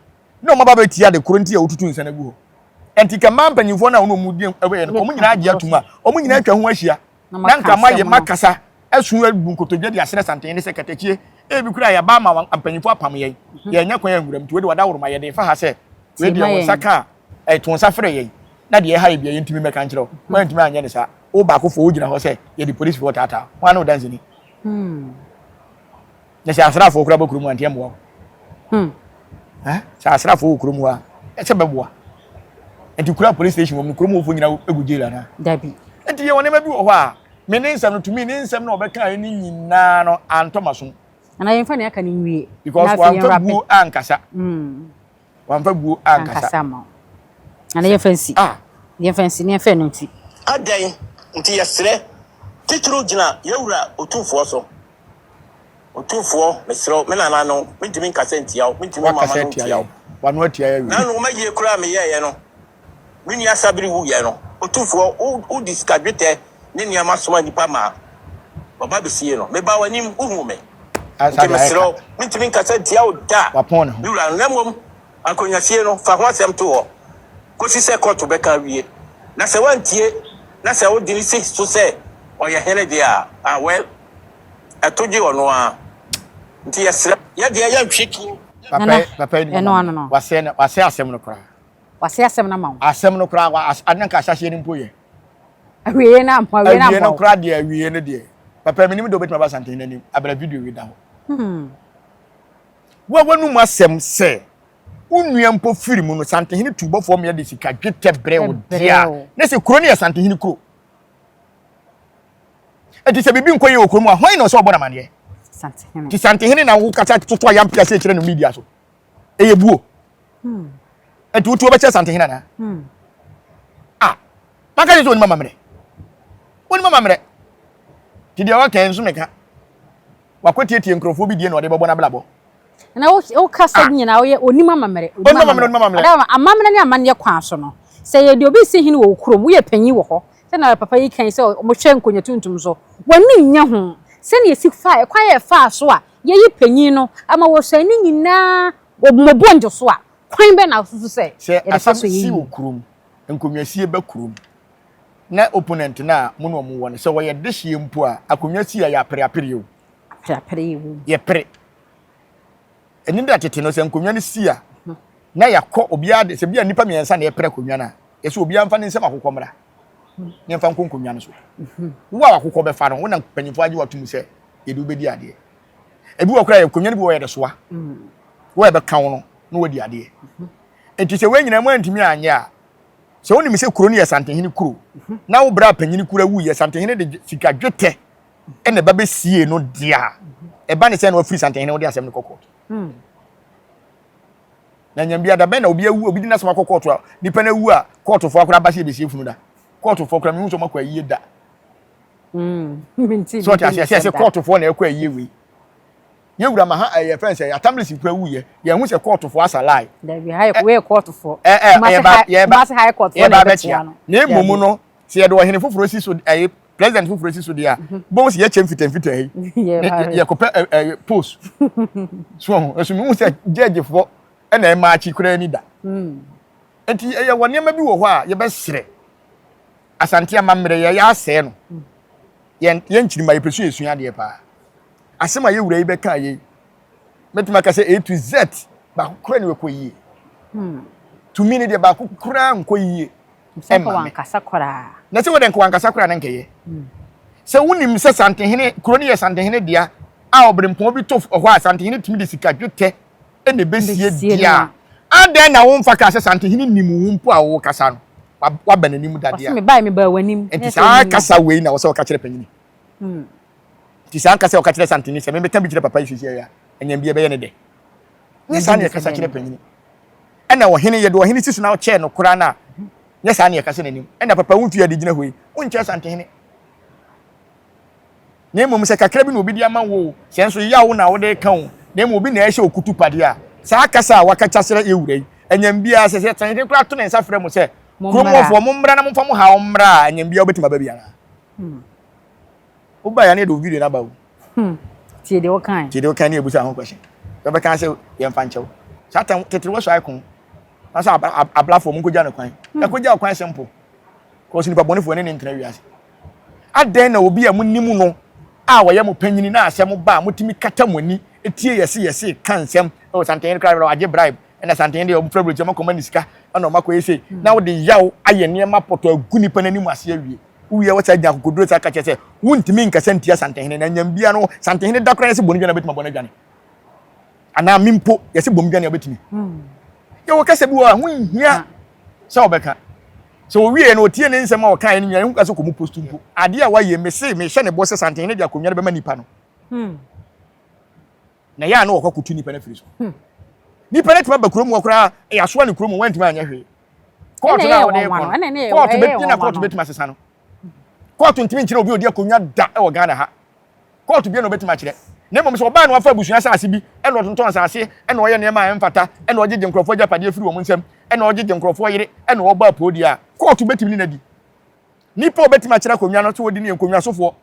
Speaker 1: Na wɔn aba bɛtie ade koro nti a wɔtutu nsa no agu hɔ. Enti nka mmaa mpanimfoɔ no a wɔne wɔn di ɛyɛ no, wɔn nyinaa agye atom a, wɔn nyinaa atwa ho ahyia, na anka mayɛ makasa asu abu nkotodwe de asrɛ santen ne sɛ, Katakyie, ebi koraa yɛaba ama wɔn mpanimfoɔ apam yɛn, yɛannya kwan anwura mu, nti wei deɛ wɔda woroma, yɛ den fa ha sɛ wei deɛ wo nsa ka a, to nsa frɛ yɛn na deɛ ɛha yɛn biara yɛntumi mmɛka nkyerɛ wo. Wɔantumi anyɛ no saa. Wo baakofoɔ wogyina hɔ sɛ yɛde polisifoɔ retaataa wo. Hwan ne wo danseni? Hmm. Na sɛ asraafoɔ koraa bɔ kurom a nteɛ mmoa wo. Hmm. Eh? Sɛ asraafoɔ wɔ kurom hɔ a ɛsɛ bɛboa. Nti kura police station wɔn kurom wɔfoɔ nyinaa egu jail anaa? Dabi. Nti yɛ wɔn
Speaker 4: nneɛma bi wɔ
Speaker 1: hɔ a me ne nsɛm no tumi ne nsɛm na ɔbɛka yɛ ne nyinaa no antɔ ma so. Anaa yɛn fa ne
Speaker 4: aka ne nwie. Because wɔn antɔ buo
Speaker 1: ankasa. Hmm. wamfa buo ankasa. Ankasa ama wo.
Speaker 4: Na ne yɛmfa nsi. Ah. Yɛmfa nsi, ne yɛmfa ɛno nti. Adɛn
Speaker 2: nti yɛsrɛ, titiriw gyina yɛn Wura Otumfoɔ so? Otumfoɔ, mesrɛ wo, me nananom, mentumi nkasa ntia wo, mentumi mma m'ano ntia wo. W'ano atia yɛn awie.
Speaker 1: Nano, mayie koraa a
Speaker 2: meyɛeɛ no. Me nua Sabiri wuiɛ no, Otumfoɔ, wo, wode sika dwetɛ ne nneɛma somaa nnipa maa wɔba bɛsiee no. Mebaa w'anim, wohuu me. Enti mesrɛ wo, mentumi nkasa ntia wo da, me wura, na
Speaker 1: mmom
Speaker 2: ankonwasie no, fa ho asɛm to hɔ kɔsi sɛ kɔɔto bɛka awie. Na sɛ woantie, na sɛ wode no si so sɛ ɔyɛ hene deɛ a, ah, well, ɛto gye ɔno ara. Enti yɛsrɛ wo, yɛ deɛ yɛntwe tuo. Papa yi, papa yi, ne mma
Speaker 1: no, wasɛe,
Speaker 4: wasɛe asɛm no
Speaker 1: koraa. W'ase asɛm
Speaker 4: no ama wo. Asɛm no koraa wa as
Speaker 1: ade na nka ahyɛaseɛ no mpo yɛ. Awieɛ
Speaker 4: no ampa awieɛ no ampa wo. Awieɛ no koraa deɛ awieɛ
Speaker 1: no deɛ. Papa menim deɛ wobɛtumi aba Asantehene anim abra video wei da hɔ. Hmm. Wo a w'anum asɛm sɛ wo nua mpo firi mu no Santehene tu bɔfoɔ mmea de sika dwetɛ brɛ wo deɛ a ne sɛ kuro no yɛ Santehene kuro. Eti sɛ biribi nkɔ yie wɔ kurom a hwan na ɔsɛ ɔbɔ no amanneɛ? Santehene. Ti
Speaker 4: Santehene na
Speaker 1: wokasa toto ayampe ase kyerɛ no media so. ɛyɛ buo ɛnti wotuo bɛkyɛ santehin anaa a maka ne sɛ ɔnim amammerɛ ɔnim amammerɛ nti deɛ ɔka nso meka wakwatietie nkurɔfoɔ bi die na ɔde bɛbɔ no abrabɔ na
Speaker 4: wokasa ah. nyinaa woyɛ ɔnim amammerɛ amammerɛ ne amanneɛ kwan so no sɛ yɛde obi si hene wɔ kurom woyɛ panyin wɔ hɔ sɛna papa yi kan sɛ wɔhwɛ nkonya tuntum so w'ani nyɛ ho sɛnea ɛsi fa ɛkwan yɛ faa so a Yeyi panyin no ama wɔsɛe ne nyinaa wɔ mmɔbɔ njo so a, kwan bɛn na wususu sɛ yɛde fa so yɛ eyi? Sɛ asɛm si wɔ
Speaker 1: kurom, nkonnwasie ba kurom, na opponent no a mo ne wɔn wɔ no, sɛ wɔyɛ dehyeɛ mpo a, akonnwa si a, yɛapere apere o. Apere apere yɛ wom. Yɛpere. Ɛnni dɛ tete no, sɛ nkonnwa no si a, na yɛakɔ obiara de, sɛ bi a nnipa mmiɛnsa na yɛpere akonnwa no a, yɛse obiara mfa ne nsam akokɔ mmra. yɛmfa nkɔ nkonnwa no so wo a wakokɔ bɛfa no wo na mpanyinfoɔ agye watum sɛ yɛde wobɛdi adeɛ ebi wɔ koraa yɛ nkonnwa no bi wɔ yɛde soa wo a ɛbɛka wo no na wadi adeɛ nti sɛ wei nyinaa mu antumi anyɛ a sɛ wonim sɛ kuro no yɛ santehene kuro na wo berɛ a panyini kura wu yɛ santehene de sika dwetɛ ɛna ɛba bɛsie no deɛ a ɛba ne sɛ na wafiri santehene wode asɛm no kɔkɔɔ Na nyɛ bia dabɛn na obi awu obi de n'asɛm akɔ kɔɔto a nipa no awu a kɔɔtofo akora aba sɛ yɛbɛsie funu da kɔɔtofo kora mehu sɛ ɔmakɔ ayie da
Speaker 4: sɛ ɔte aseɛ sɛ sɛ kɔɔtofoɔ
Speaker 1: na ɛkɔ ayie wei yɛwura ma ha ɛyɛ fɛn sɛ atamlesi kora wu yɛ yɛhu sɛ kɔɔtofoɔ asa lae yɛba bɛkyea
Speaker 4: na
Speaker 1: mmom no sɛ yɛde ɔhene foforɔ si so ɛyɛ president foforɔ si so deɛ a bɔn si yɛkyɛ mfitɛmfitɛ yi yɛkɔpɛ ɛyɛ post so ho ɛso mu sɛ gyɛgyefoɔ ɛna ɛma akyi koraa ni da nti ɛyɛ wɔ nneɛma bi wɔ hɔ a yɛbɛsrɛ asante ama mmerɛ yɛ yɛ asɛɛ no yɛn yɛn nkyirima yɛpɛ so yɛsua adeɛ paa asɛm a yɛwura yi bɛka yɛ mɛtumi aka sɛ a to z baako koraa ne ɛkɔ yie tumi ne deɛ baako koraa nkɔ yie Sɛ nka wankasa
Speaker 4: koraa. Na sɛ wɔde nka wankasa
Speaker 1: koraa na nkɛyɛ. Sɛ wonim sɛ Santehene, kuro no yɛ Santehene dea a ɔberempɔn bi to hɔ a Santehene tumi de sika dwetɛ na ɛbɛsie deɛ a, adɛn na womfa kaa sɛ Santehene nim wo mpo a wowɔ kasa no? Waba n'anim da dea. Ɔse mebae mebaa w'anim.
Speaker 4: Nti saa kasa wei
Speaker 1: na wɔsɛ wɔka kyerɛ panyini. Nti saa nkasa wɔka kyerɛ Santehene sɛ mebɛka bi kyerɛ papa yi sisi a ɛnyɛ bi ɛbɛyɛ ne dɛ. Nyɛ saa na yɛkasa kyerɛ panyini. Ɛna ɔhene yɛ deɛ ɔhene si so na ɔkyɛɛ no koraa no a, nyɛ saa na yɛkasa n'anim. Ɛna papa wo ntua a ɛde gyina hɔ yi, wonkyɛɛ santehene. Na mmom sɛ kakra bi na obi de ama wo o, sɛ nso yaw na wode reka o, na mmom obi na ɛhyɛ wo kutupadeɛ a, saa kasa a waka kyerɛ yɛn wura yi, anyam biara, sɛ santehene koraa to ne nsa frɛ mo sɛ, Kurom hɔfoɔ, mommra na momfa mo haw mmra a, anyam biara wobɛtumi aba bi anaa? woba ya ne yɛde wo video no aba o hmm. tie deɛ
Speaker 4: wokae tie deɛ wokae ne yɛbusa ho
Speaker 1: question bɛbɛka sɛ yɛmfa nkyɛw saa tam tete wɔ so ae ko na sɛ ablafoɔ mu nkɔgya no kwan hmm. ɛkɔgya ɔkwan simple kɔsi nipa bɔnefoɔ ne ne ntena wiase adɛn na obi a monim no a wɔyɛ mo panyini na asɛm ba a motumi kata mo ani tie yɛse yɛse ka nsɛm ɛwɔ santɛn kora agye bribe ɛna santɛn deɛ ɔmofrɛ brɛkyɛ ɔmakɔma ne sika ɛna ɔmakɔyɛ sei hmm. na wode yaw ayɛ nneɛma pɔtɔ agu nipa no anim ase awie Wowie wɔsan gyina akokoduru san ka kyerɛ sɛ wontumi nkasa ntia Santehene na nyɛn biara no Santehene da koraa yɛse bɔ no dwane a obetumi abɔ no adwane anaa me mpo yɛse bɔ me dwane a obetumi yɛwɔ kasa bi wɔ a ho nhia sɛ ɔbɛka sɛ owie no otie ne nsɛm a ɔkaeɛ no nyinaa ɛho ka sɛ kɔ mu post mpo adeɛ a wayɛ mese mehyɛ ne bɔ sɛ Santehene de akonnwa no bɛma nipa no Na ɛyɛ a na wɔkɔ kutu nipa no afiri so. Hmm. Nipa no tumi aba kurom hɔ koraa yɛasoa no kurom wɔntumi anyɛ hwee. Kɔɔto no a wɔde kɔ no, kɔɔto bɛtumi na kɔɔto bɛtumi asesa no. Kɔɔto ntumi nkyerɛ obi odi akonnwa da wɔ Ghana ha. Kɔɔto bia na ɔbɛtumi akyerɛ. Na mmom sɛ ɔbaa na wafa abusua asase bi ɛna ɔtontɔn asase ɛna ɔyɛ nneɛma a ɛmfata ɛna ɔgyegye nkurɔfoɔ agyapadeɛ firi wɔn nsam ɛna ɔgyegye nkurɔfoɔ yere ɛna ɔbɔ apoo deɛ a kɔɔto bɛtumi ne no adi. Nnipa a wɔbɛtumi akyerɛ akonnwa no nso wɔdi ne yɛ nkonnwasofoɔ.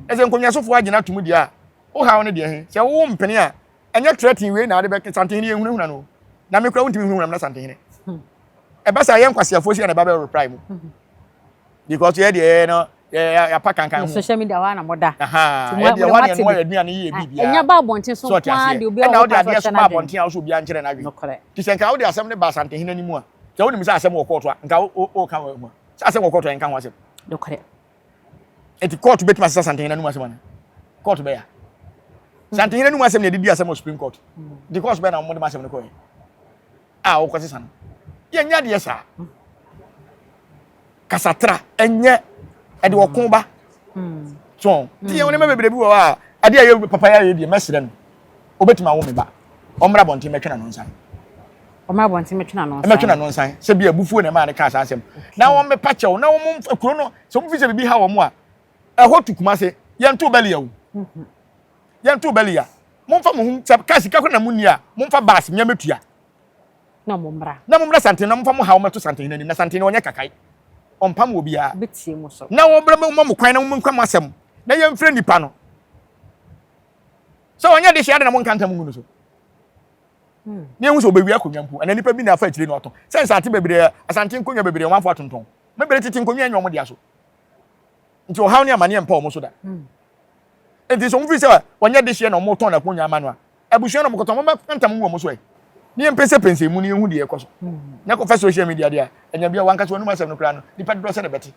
Speaker 1: Na sɛ nkonnwasofoɔ agyina ato mu deɛ a, wo haw no deɛ he, sɛ wo mpene a, ɛnyɛ trɛtee wei na wode bɛka santehene yɛ nhunahuna no. Na me kora wontumi nhunahuna me na santehene. Ɛba saa yɛ nkwaseafoɔ si na ɛba bɛ reply mu. Because yɛ deɛ yɛ no yɛapa kankan ho. Social media hɔ na moda.
Speaker 4: Aha, yɛ deɛ hɔ na
Speaker 1: yɛnoa yɛ aduane yɛ bi biara. Ɛnyɛ ba abɔnten so nko ara
Speaker 4: deɛ obi a wɔpa so kyɛ no adwene. Ɛna wode adeɛ so ba
Speaker 1: abɔnten a wosɛ obi ankyerɛ no adwene. Nti sɛ nka wode asɛm no ba santehene no mu a, sɛ wonim sɛ asɛm wɔ kɔɔto a, nka woka wɔ ho a. Sɛ asɛm wɔ kɔɔto a, yɛnka ho asɛm. Nokorɛ. Enti kɔɔto bɛtumi asesa Santehene anum asɛm anaa? Kɔɔto bɛyɛ a. Santehene anum asɛm na yɛde di asɛm wɔ Supreme Court. Nti kɔɔso bɛyɛ na wɔde ma asɛm no kɔɛ a wɔkɔsesa no. Yɛnyɛ adeɛ saa. Kasatra ɛnyɛ ɛde ɔko ba. So, nti yɛn wɔn mma bebree bi wɔ hɔ a, adeɛ a yɛ papa yɛ ayɛ deɛ mɛsrɛ no. Obetumi awo me ba. Ɔmmra abɔnten mmɛtwe n'ano nsan. Ɔmmra abɔnten
Speaker 4: mmɛtwe n'ano nsan. Mmɛtwe n'ano nsan. Sɛ bi
Speaker 1: abufuo na ɛmaa no kaa saa asɛm. Na wɔmmepa kyɛw na wɔn kuro no sɛ wɔn fi sɛ biribi ha wɔn a ɛhɔ tu Kumase. Yɛnto Bɛlia o. Yɛnto Bɛlia. Momfa mo ho sɛ kaa sika kora na mo nni a momfa baasi mmea mɛtua. Na mo
Speaker 4: mmra. Na mo mmra santen na momfa mo ha wɔn mɛto
Speaker 1: santen n'anim na santen no ɔnyɛ kakae. Ɔmpam wɔ biara. Bɛtie mo so. Na wɔbrɛ
Speaker 4: mo mo kwan na
Speaker 1: wɔn nkwa mo asɛm na yɛmfrɛ nipa no. sɛ ɔnyɛ de hyia de na mo nka ntam ngu no so ne ehu sɛ obewia akonnwa mpo ɛna nipa bi na afa akyire na ɔtɔn sɛ nsate bebree asante nkonnwa bebree wɔn afɔ atontɔn me bere tete nkonnwa nyɛ wɔn de aso nti ɔhaw ne amaneɛ mpa wɔn so da hmm. nti sɛ wɔn fi sɛ wɔnyɛ de hyia na wɔn tɔn na akonnwa ama no a abusua na wɔn kɔtɔn wɔn bɛ ntam ngu wɔn so ɛ ne yɛn pɛsɛ pɛnsɛ mu ne yɛn hu deɛ ɛkɔ so ne kɔ fɛ social media deɛ ɛnya bi a wɔn ankasa wɔn anum asɛm no koraa no nipa dodo sɛ na bɛte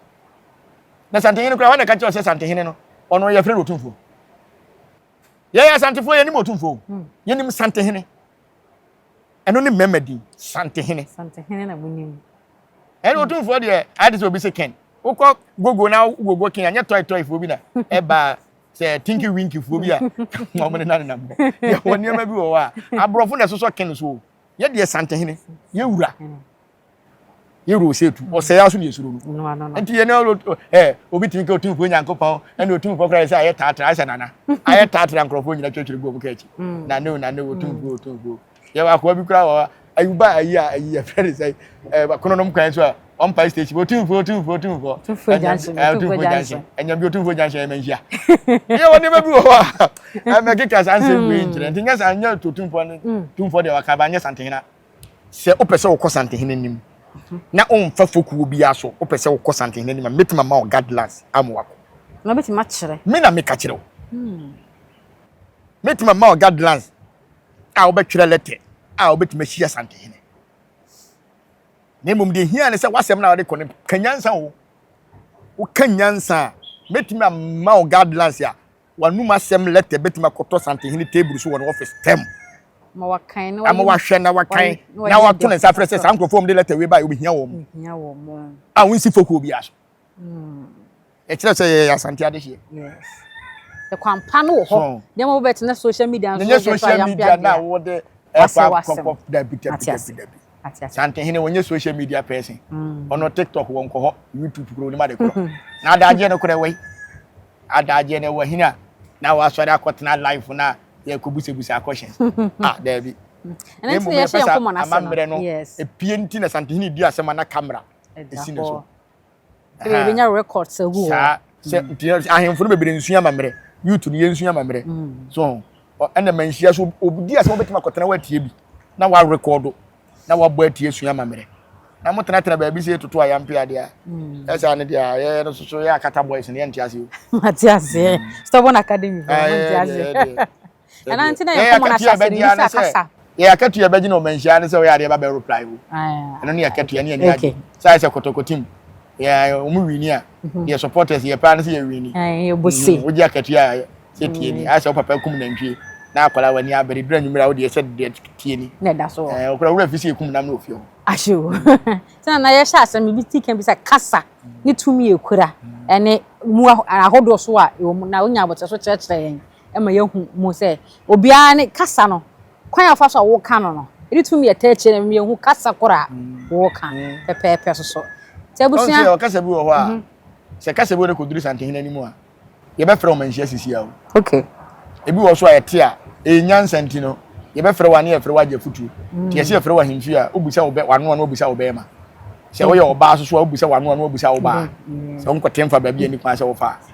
Speaker 1: na santehene koraa wɔn na ɛka kyerɛ sɛ santehene no ɔno yɛ fɛ no otumfoɔ yɛyɛ asantefoɔ yɛnim ɔtumfoɔ hmm. yɛnim santehene ɛno ne mmarima din santehene
Speaker 4: ɛne
Speaker 1: ɔtumfoɔ deɛ ade sɛ obi sɛ ken wokɔ gogo na gogo ken anyɛ tɔetɔefoɔ bi na ɛbaa sɛ tinki winkifoɔ bi a ɔmo ne nanenam hɔ yɛwɔ nneɛma bi wɔ hɔ a aborɔfo na ɛsosɔ ken so yɛdeɛ santehene yɛwura yɛwura ɔsɛ tu ɔsɛe aso deɛ suro no nti yɛn ɛ obi tumi ka otumfoɔ nyankopɔn ɛna otumfoɔ koraa sɛ ayɛ taatra ayɛ sɛ nana ayɛ taatra nkurɔfoɔ nyina twɛtwere gu ɔmo ka akyi nane o nane o otumfoɔ otumfoɔ yɛwɔ akoa bi koraa wɔ ayuba ayi a ayi yɛfrɛ ne sɛ ɛ kono nom kwan so a ɔmpae station otumfoɔ otumfoɔ otumfoɔ otumfoɔ gyansen otumfoɔ gyansen ɛnyam bi otumfoɔ gyansen ɛmɛ nhyia yɛwɔ nneɛma bi wɔ hɔ a ɛmɛ keka saa nsɛm wei nkyerɛ nti nyɛ saa nyɛ otumfoɔ ne tumfoɔ deɛ wakaba nyɛ santehena Sɛ wopɛ sɛ wokɔ Santehene anim na womfa fokuo biara so, wopɛ sɛ wokɔ Santehene anim a, mɛtumi ama wo guidelines ama wakɔ. Na wobɛtumi akyerɛ.
Speaker 4: Me na meka kyerɛ wo.
Speaker 1: Mɛtumi ama wo guidelines a wobɛtwerɛ lɛtɛ a wobɛtumi ahyia Santehene. Na mmom deɛ hia ne sɛ w'asɛm no a wode kɔ no ka nyansa o. Woka nyansa a, mɛtumi ama wo guidelines a W'anom asɛm lɛtɛ betumi akɔtɔ santehene table so wɔ ne ɔfis tɛm. Ma wakan
Speaker 4: na Ama wayɛ wahwɛ na wakan
Speaker 1: wayi- na wayɛ na ne wato ne deɛ nsa afrɛ sɛ ɔfata. saa nkurɔfoɔ a wɔde lɛtɛ wei baeɛ wɔbɛhia wɔn Hia wɔn mo. a wɔnsi fokuo biara so. Ɛkyerɛ sɛ yɛyɛ Asante adehyeɛ.
Speaker 4: Yes. Ɛkwan pa no wɔ hɔ. So. Nneɛma wobɛtena social media no so Ɛnyɛ wode to social ayampeadeɛ media no a a,
Speaker 1: wode ɛkɔ Wasɛ w'asɛm. akɔkɔ dabi dabi Wate dabi ase. dabi. Ate ase. Santen hene wɔnyɛ social media person. Ɔno TikTok wɔ nkɔ hɔ, YouTube kuro onim ade korɔ. Na adagyeɛ no korɛ wɔ yi. Adagyeɛ no wɔ hene a na wasɔre akɔtena live na yɛkɔ busabusa questions. Ah daabi. Na mmom yɛpɛ
Speaker 4: sɛ amammerɛ no
Speaker 1: epie nti na
Speaker 4: Santen hene
Speaker 1: di asɛm a na camera esi ne so. Ebi ebi nya
Speaker 4: records agu hɔ. Saa sɛ mm. nti
Speaker 1: sɛ ahemfo no bebree nsua amammerɛ youth no yɛnsua amammerɛ mm. so ɛna ma nhyia so obidi a sɛ wobɛtumi akɔtena woatie bi na woarekɔdo na woabɔ atie sua amammerɛ na motenatena baabi sɛ yɛtoto a yɛampe adeɛ a mm. ɛsaa no deɛ a yɛyɛ no soso yɛ akata boys no yɛnte aseɛ mate aseɛ
Speaker 4: stubborn academy fo mate aseɛ ɛna nti na yɛkɔ mɔn ahyase no yɛsɛ akasa yɛ akatua bɛgye
Speaker 1: na ɔma nhyia ne sɛ ɔyɛ adeɛ ba bɛ reply wo ɛno ne akatua ne ani agye sɛ ayɛ sɛ kɔtɔkɔtim yɛ ɔmo wini a mhm. yɛ supporters yɛ paa ne sɛ yɛ wini mhm. wogye
Speaker 4: akatua a
Speaker 1: sɛ tie ni mhm. ayɛ sɛ wo papa kum nantwie na akwadaa w'ani abere dura nwumere a wodeɛ sɛ deɛ tie ni ɔkora wura
Speaker 4: fi sɛ yɛkum nam
Speaker 1: na ofie hɔ ahye o
Speaker 4: sɛ nana yɛhyɛ asɛm ebi ti kan bi sɛ kasa ne tumi ekura ɛne mu ahodoɔ so a na wonya abɔtɛ so kyerɛkyerɛ yɛn ma yɛahu mu sɛ obiara ne kasa no, kwan a ɔfa so a woka no no, ɛde tumi yɛ ta akyire no, yɛhu kasa koro a woreka pɛpɛɛpɛ so so. Sɛ abusua. Ɔn sɛ ɔkasa bi wɔ hɔ a, mhm.
Speaker 1: sɛ kasa bi wɔ ne kɔduru santehene anim a, yɛbɛfrɛ wɔn nhyia sisi awo. Okay.
Speaker 4: Ebi wɔ so a
Speaker 1: ɛte a, ɛyɛ nyansa nti no, yɛbɛfrɛ wɔn ne yɛfrɛ wɔn agya futuo. Mm. Yɛsɛ yɛfrɛ wɔn ahemfie a, wobisa wɔn ano ano, wobisa wɔn bɛrima. Sɛ woyɛ ɔbaa soso a, wobisa wɔn ano ano, wobisa wɔn baa. Sɛ wonkɔte mfa baabi a nnipa sɛ wofa a.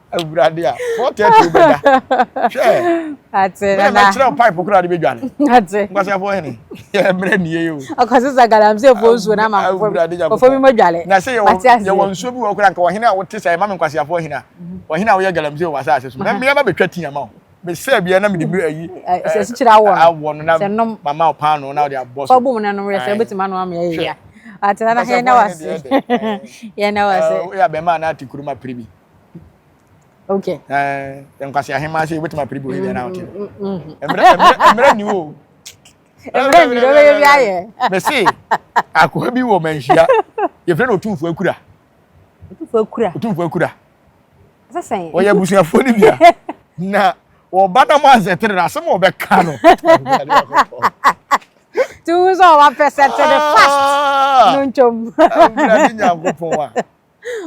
Speaker 1: awurade a four thirty wobɛda hwɛ bɛyɛ
Speaker 4: mɛkyerɛ wo pipe koraa
Speaker 1: de bɛdwane nkwaseafoɔ
Speaker 4: hene
Speaker 1: yɛmmerɛ nnie o ɔkɔse sa galamseefoɔ
Speaker 4: nsuo no ama ɔfɔ bi mɔdwale na sɛ yɛwɔ
Speaker 1: nsuo bi wɔ koraa nka ɔhene a wote sɛ ɛma me nkwaseafoɔ hene a ɔhene a woyɛ galamsee wɔ asase so na meɛba bɛtwa ti ama wo mesɛ bia na mede bi ayi asikyire awɔ
Speaker 4: no na
Speaker 1: mama wo paano na wode abɔ so fɔbom no nom yɛ sɛ
Speaker 4: wobɛtumi ano ama yɛyɛ atena na hɛn na wase yɛn na wase yɛ abɛma na ate kuruma
Speaker 1: pere bi
Speaker 4: Okay. Eh, yɛn
Speaker 1: kwasi ahema ase wobɛtumi apere bi oyedeɛ na wote mmerɛ ni o mmerɛ
Speaker 4: ni na wobɛyɛ bi ayɛ mese
Speaker 1: akoa bi wɔ manhyia yɛfrɛ no ɔtumfoɔ akura ɔtumfoɔ akura ɔtumfoɔ akura sɛsɛn
Speaker 4: ɔyɛ abusuafoɔ
Speaker 1: no bia na ɔba na mo asɛ tere na asɛm a ɔbɛka no
Speaker 4: tuwu sɛ ɔba pɛ sɛ tere fast ah! no ntwom awurade nyankopɔn
Speaker 1: a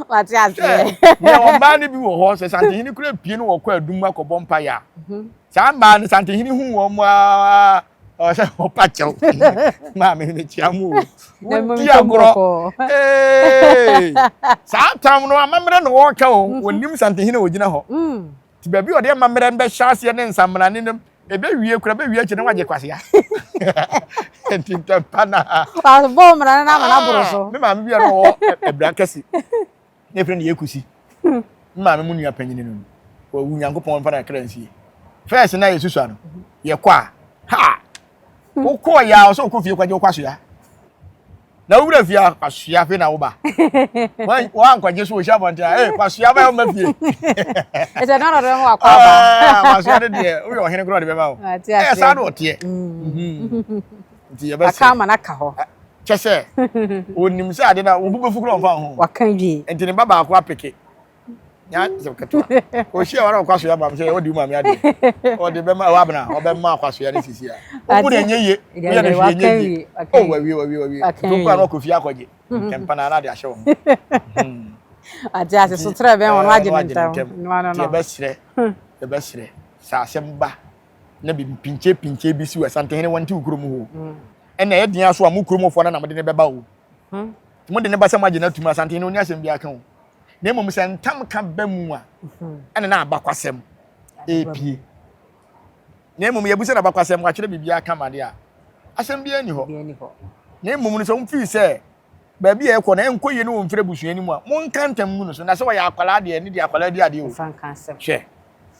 Speaker 1: wate aseɛ
Speaker 4: nea wɔn
Speaker 1: mmaa no bi wɔ hɔ sɛ santehene kura pie no wɔkɔ adum akɔbɔ mpaeɛ a mhm. saa mmaa no santehene hu wɔn a ɔsɛ ɔpa kyɛw maame mekyia mu wodi agorɔ saa tam no amammerɛ na wɔreka o wɔnim santehene a wɔgyina hɔ Nti baabi a ɔde amammerɛ no bɛhyɛ aseɛ ne nsammerane no mu. Ɛbɛwie koraa, ɛbɛwie akyire na wagye kwasea. Nti ntɛmpa na. Wabɔ mmara no
Speaker 4: na ama no aboro so. Ah, me maame bi a na ɔwɔ
Speaker 1: abira kɛse. Na efiri ne yɛ kusi. Hmm. Me maame mu nua panyin no. Wawu Nyankopɔn mfa na kra nsie. Fɛs na yɛsusua no. Yɛkɔ a, ha! Hmm. Wokɔɔ yɛ a ɔsɛ wokɔ fie kɔgye wo kwasea. na wo wura fie a kwasua hwe na woba woankwagye so wɔhyia abɔnten a ee kwasua bɛyɛ ɔma fie ɛsɛ na
Speaker 4: ɔdɔdɔ ho akɔ aba ah, kwasua no deɛ woyɛ
Speaker 1: ɔhene korɔ de bɛma wo ɛyɛ saa na ɔteɛ nti yɛbɛsɛ aka ama no aka hɔ
Speaker 4: kyɛ sɛ
Speaker 1: ɔnim sɛ ade no wo bu bɛfu korɔ mfa ho waka wie nti ne ba
Speaker 4: baako apeke
Speaker 1: nya sɛ ketewa ohyia wɔn a ɔkwaso yɛ ma sɛ ɔde mu ame adeɛ ɔde bɛma ɛwɔ abena ɔbɛma akwaso yɛ ne sisi a ɔbu na enye ye ɔyɛ ne hwee enye ye o wawie wawie wawie ntɔnkwa na ɔkɔ fie akɔgye ntɛmpa na anade ahyɛ wɔn.
Speaker 4: ate ase so kyerɛ bɛn wɔn agye ne ntɛm nti ɛbɛsrɛ
Speaker 1: ɛbɛsrɛ sɛ asɛm ba na bi mpinkyɛ pinkyɛ bi si wɔ asantehene wɔn ti wɔ kurom hɔ ɛna ɛyɛ den aso a mo kurom fɔ na na mo de ne bɛba o mo de ne ba sɛ mo agye no atum asantehene oni asɛm bi aka o. na mmom sɛ ntamka ba mu a, ɛne na abakwasɛm ɛrepie. Na mmom yɛbu sɛ na abakwasɛm wɔatwerɛ biribiara ka ma de a, asɛm biara nni hɔ. Na mmom no sɛ wofii sɛ baabi a ɛkɔ no ɛnkɔ yie ne wɔmfiri abusua no mu a, monka ntam ngu no so. Na sɛ ɔyɛ akwadaa deɛ, ɛne deɛ akwadaa di adeɛ o. Hwɛ.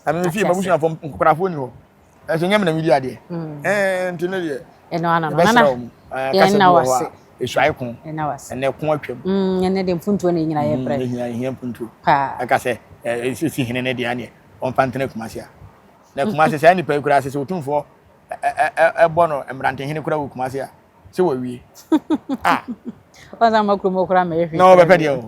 Speaker 4: ɛno
Speaker 1: no fie mabusuafoɔ nkokorafoɔ ni hɔ ɛsɛ nyɛ menam di adeɛ ɛɛ nti no deɛ ɛbɛsrɛ wɔ
Speaker 4: mu kasa bi wɔ hɔ a ɛsuae ko
Speaker 1: ɛnɛ ko
Speaker 4: atwam
Speaker 1: ɛnɛ deɛ mpuntuo
Speaker 4: na ɛnyina yɛ brɛ ɛhia ɛhia mpuntuo
Speaker 1: ɛka sɛ
Speaker 4: ɛsisi
Speaker 1: hene ne deɛ aneɛ ɔmfa ntena kuma se a na kuma se saa nipa yi koraa sɛ sɛ ɔtumfoɔ ɛbɔ no mmerantehene koraa wɔ kuma se a sɛ wɔwie
Speaker 4: a ɔnsa ma kurom koraa ma ɛhwie na wɔbɛpɛ deɛ o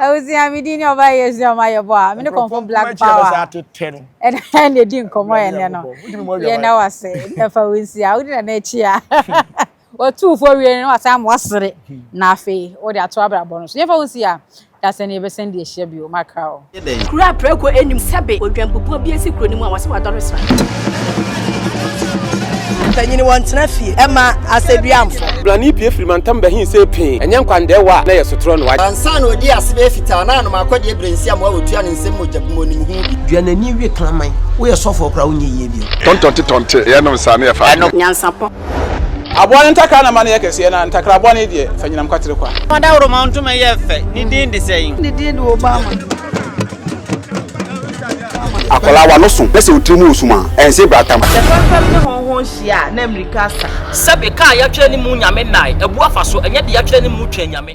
Speaker 4: abusua mi din ni ɔba yɛ abusua ɔma yɛ bɔ a mi ne kɔnfo black power ɛna ɛna edi nkɔmɔ yɛ nɛ no yɛ na wa se ɛfa wo nsi a wodi na n'akyi a otu fo wie no wa san mo asere na afei wodi ato abrabɔ no so yɛfa wo nsi a dasɛn yɛ bɛsɛn di ahyia bi o makra o. yɛ dɛn? Kuro a prɛko
Speaker 5: nnim sɛbe odwanpopua bi asi kuro no mu a wɔse wadɔre sra.
Speaker 6: Mpanyini wɔntena fie ɛma asɛduamfo. Brane pie firi
Speaker 7: mantam bɛhe sei pee, ɛnyɛ nkwandɛɛwa a na ɛyɛ sotorɔ no. Ansa na ɔdii ase bɛyɛ
Speaker 6: fitaa no, na anom akɔdeɛ berɛnsiam a ɔtua no nsam mogya bi mu wɔ ne mu ho bi. Dua n'ani we kraman. Woyɛ sɔfoɔ koraa wonyɛ yie bio. Tɔntɔnte tɔnte yɛnom
Speaker 8: saa na yɛfa adwene. Nyansapɔ.
Speaker 5: Aboa
Speaker 7: no ntakra na ma no yɛ kɛseɛ, na ntakra bɔne deɛ, fa nyinam kwatere kwa. Fa dawuroma ntoma
Speaker 9: yɛ fɛ, ne din de sɛn? Ne din de
Speaker 6: Obama.
Speaker 8: Akwadaa w'ano so na sɛ wo tiri mu wɔ sum a, ɛnse bratamu. Sɛ fɛmfɛm ne hɔnhɔn
Speaker 6: hyia a, na mmirika
Speaker 9: asa. Sɛbe, ka a yɛatwerɛ ne
Speaker 6: mu
Speaker 9: Nyame nnae, abu
Speaker 6: afa
Speaker 9: so, ɛnyɛ deɛ yɛatwerɛ ne mu twa anyame.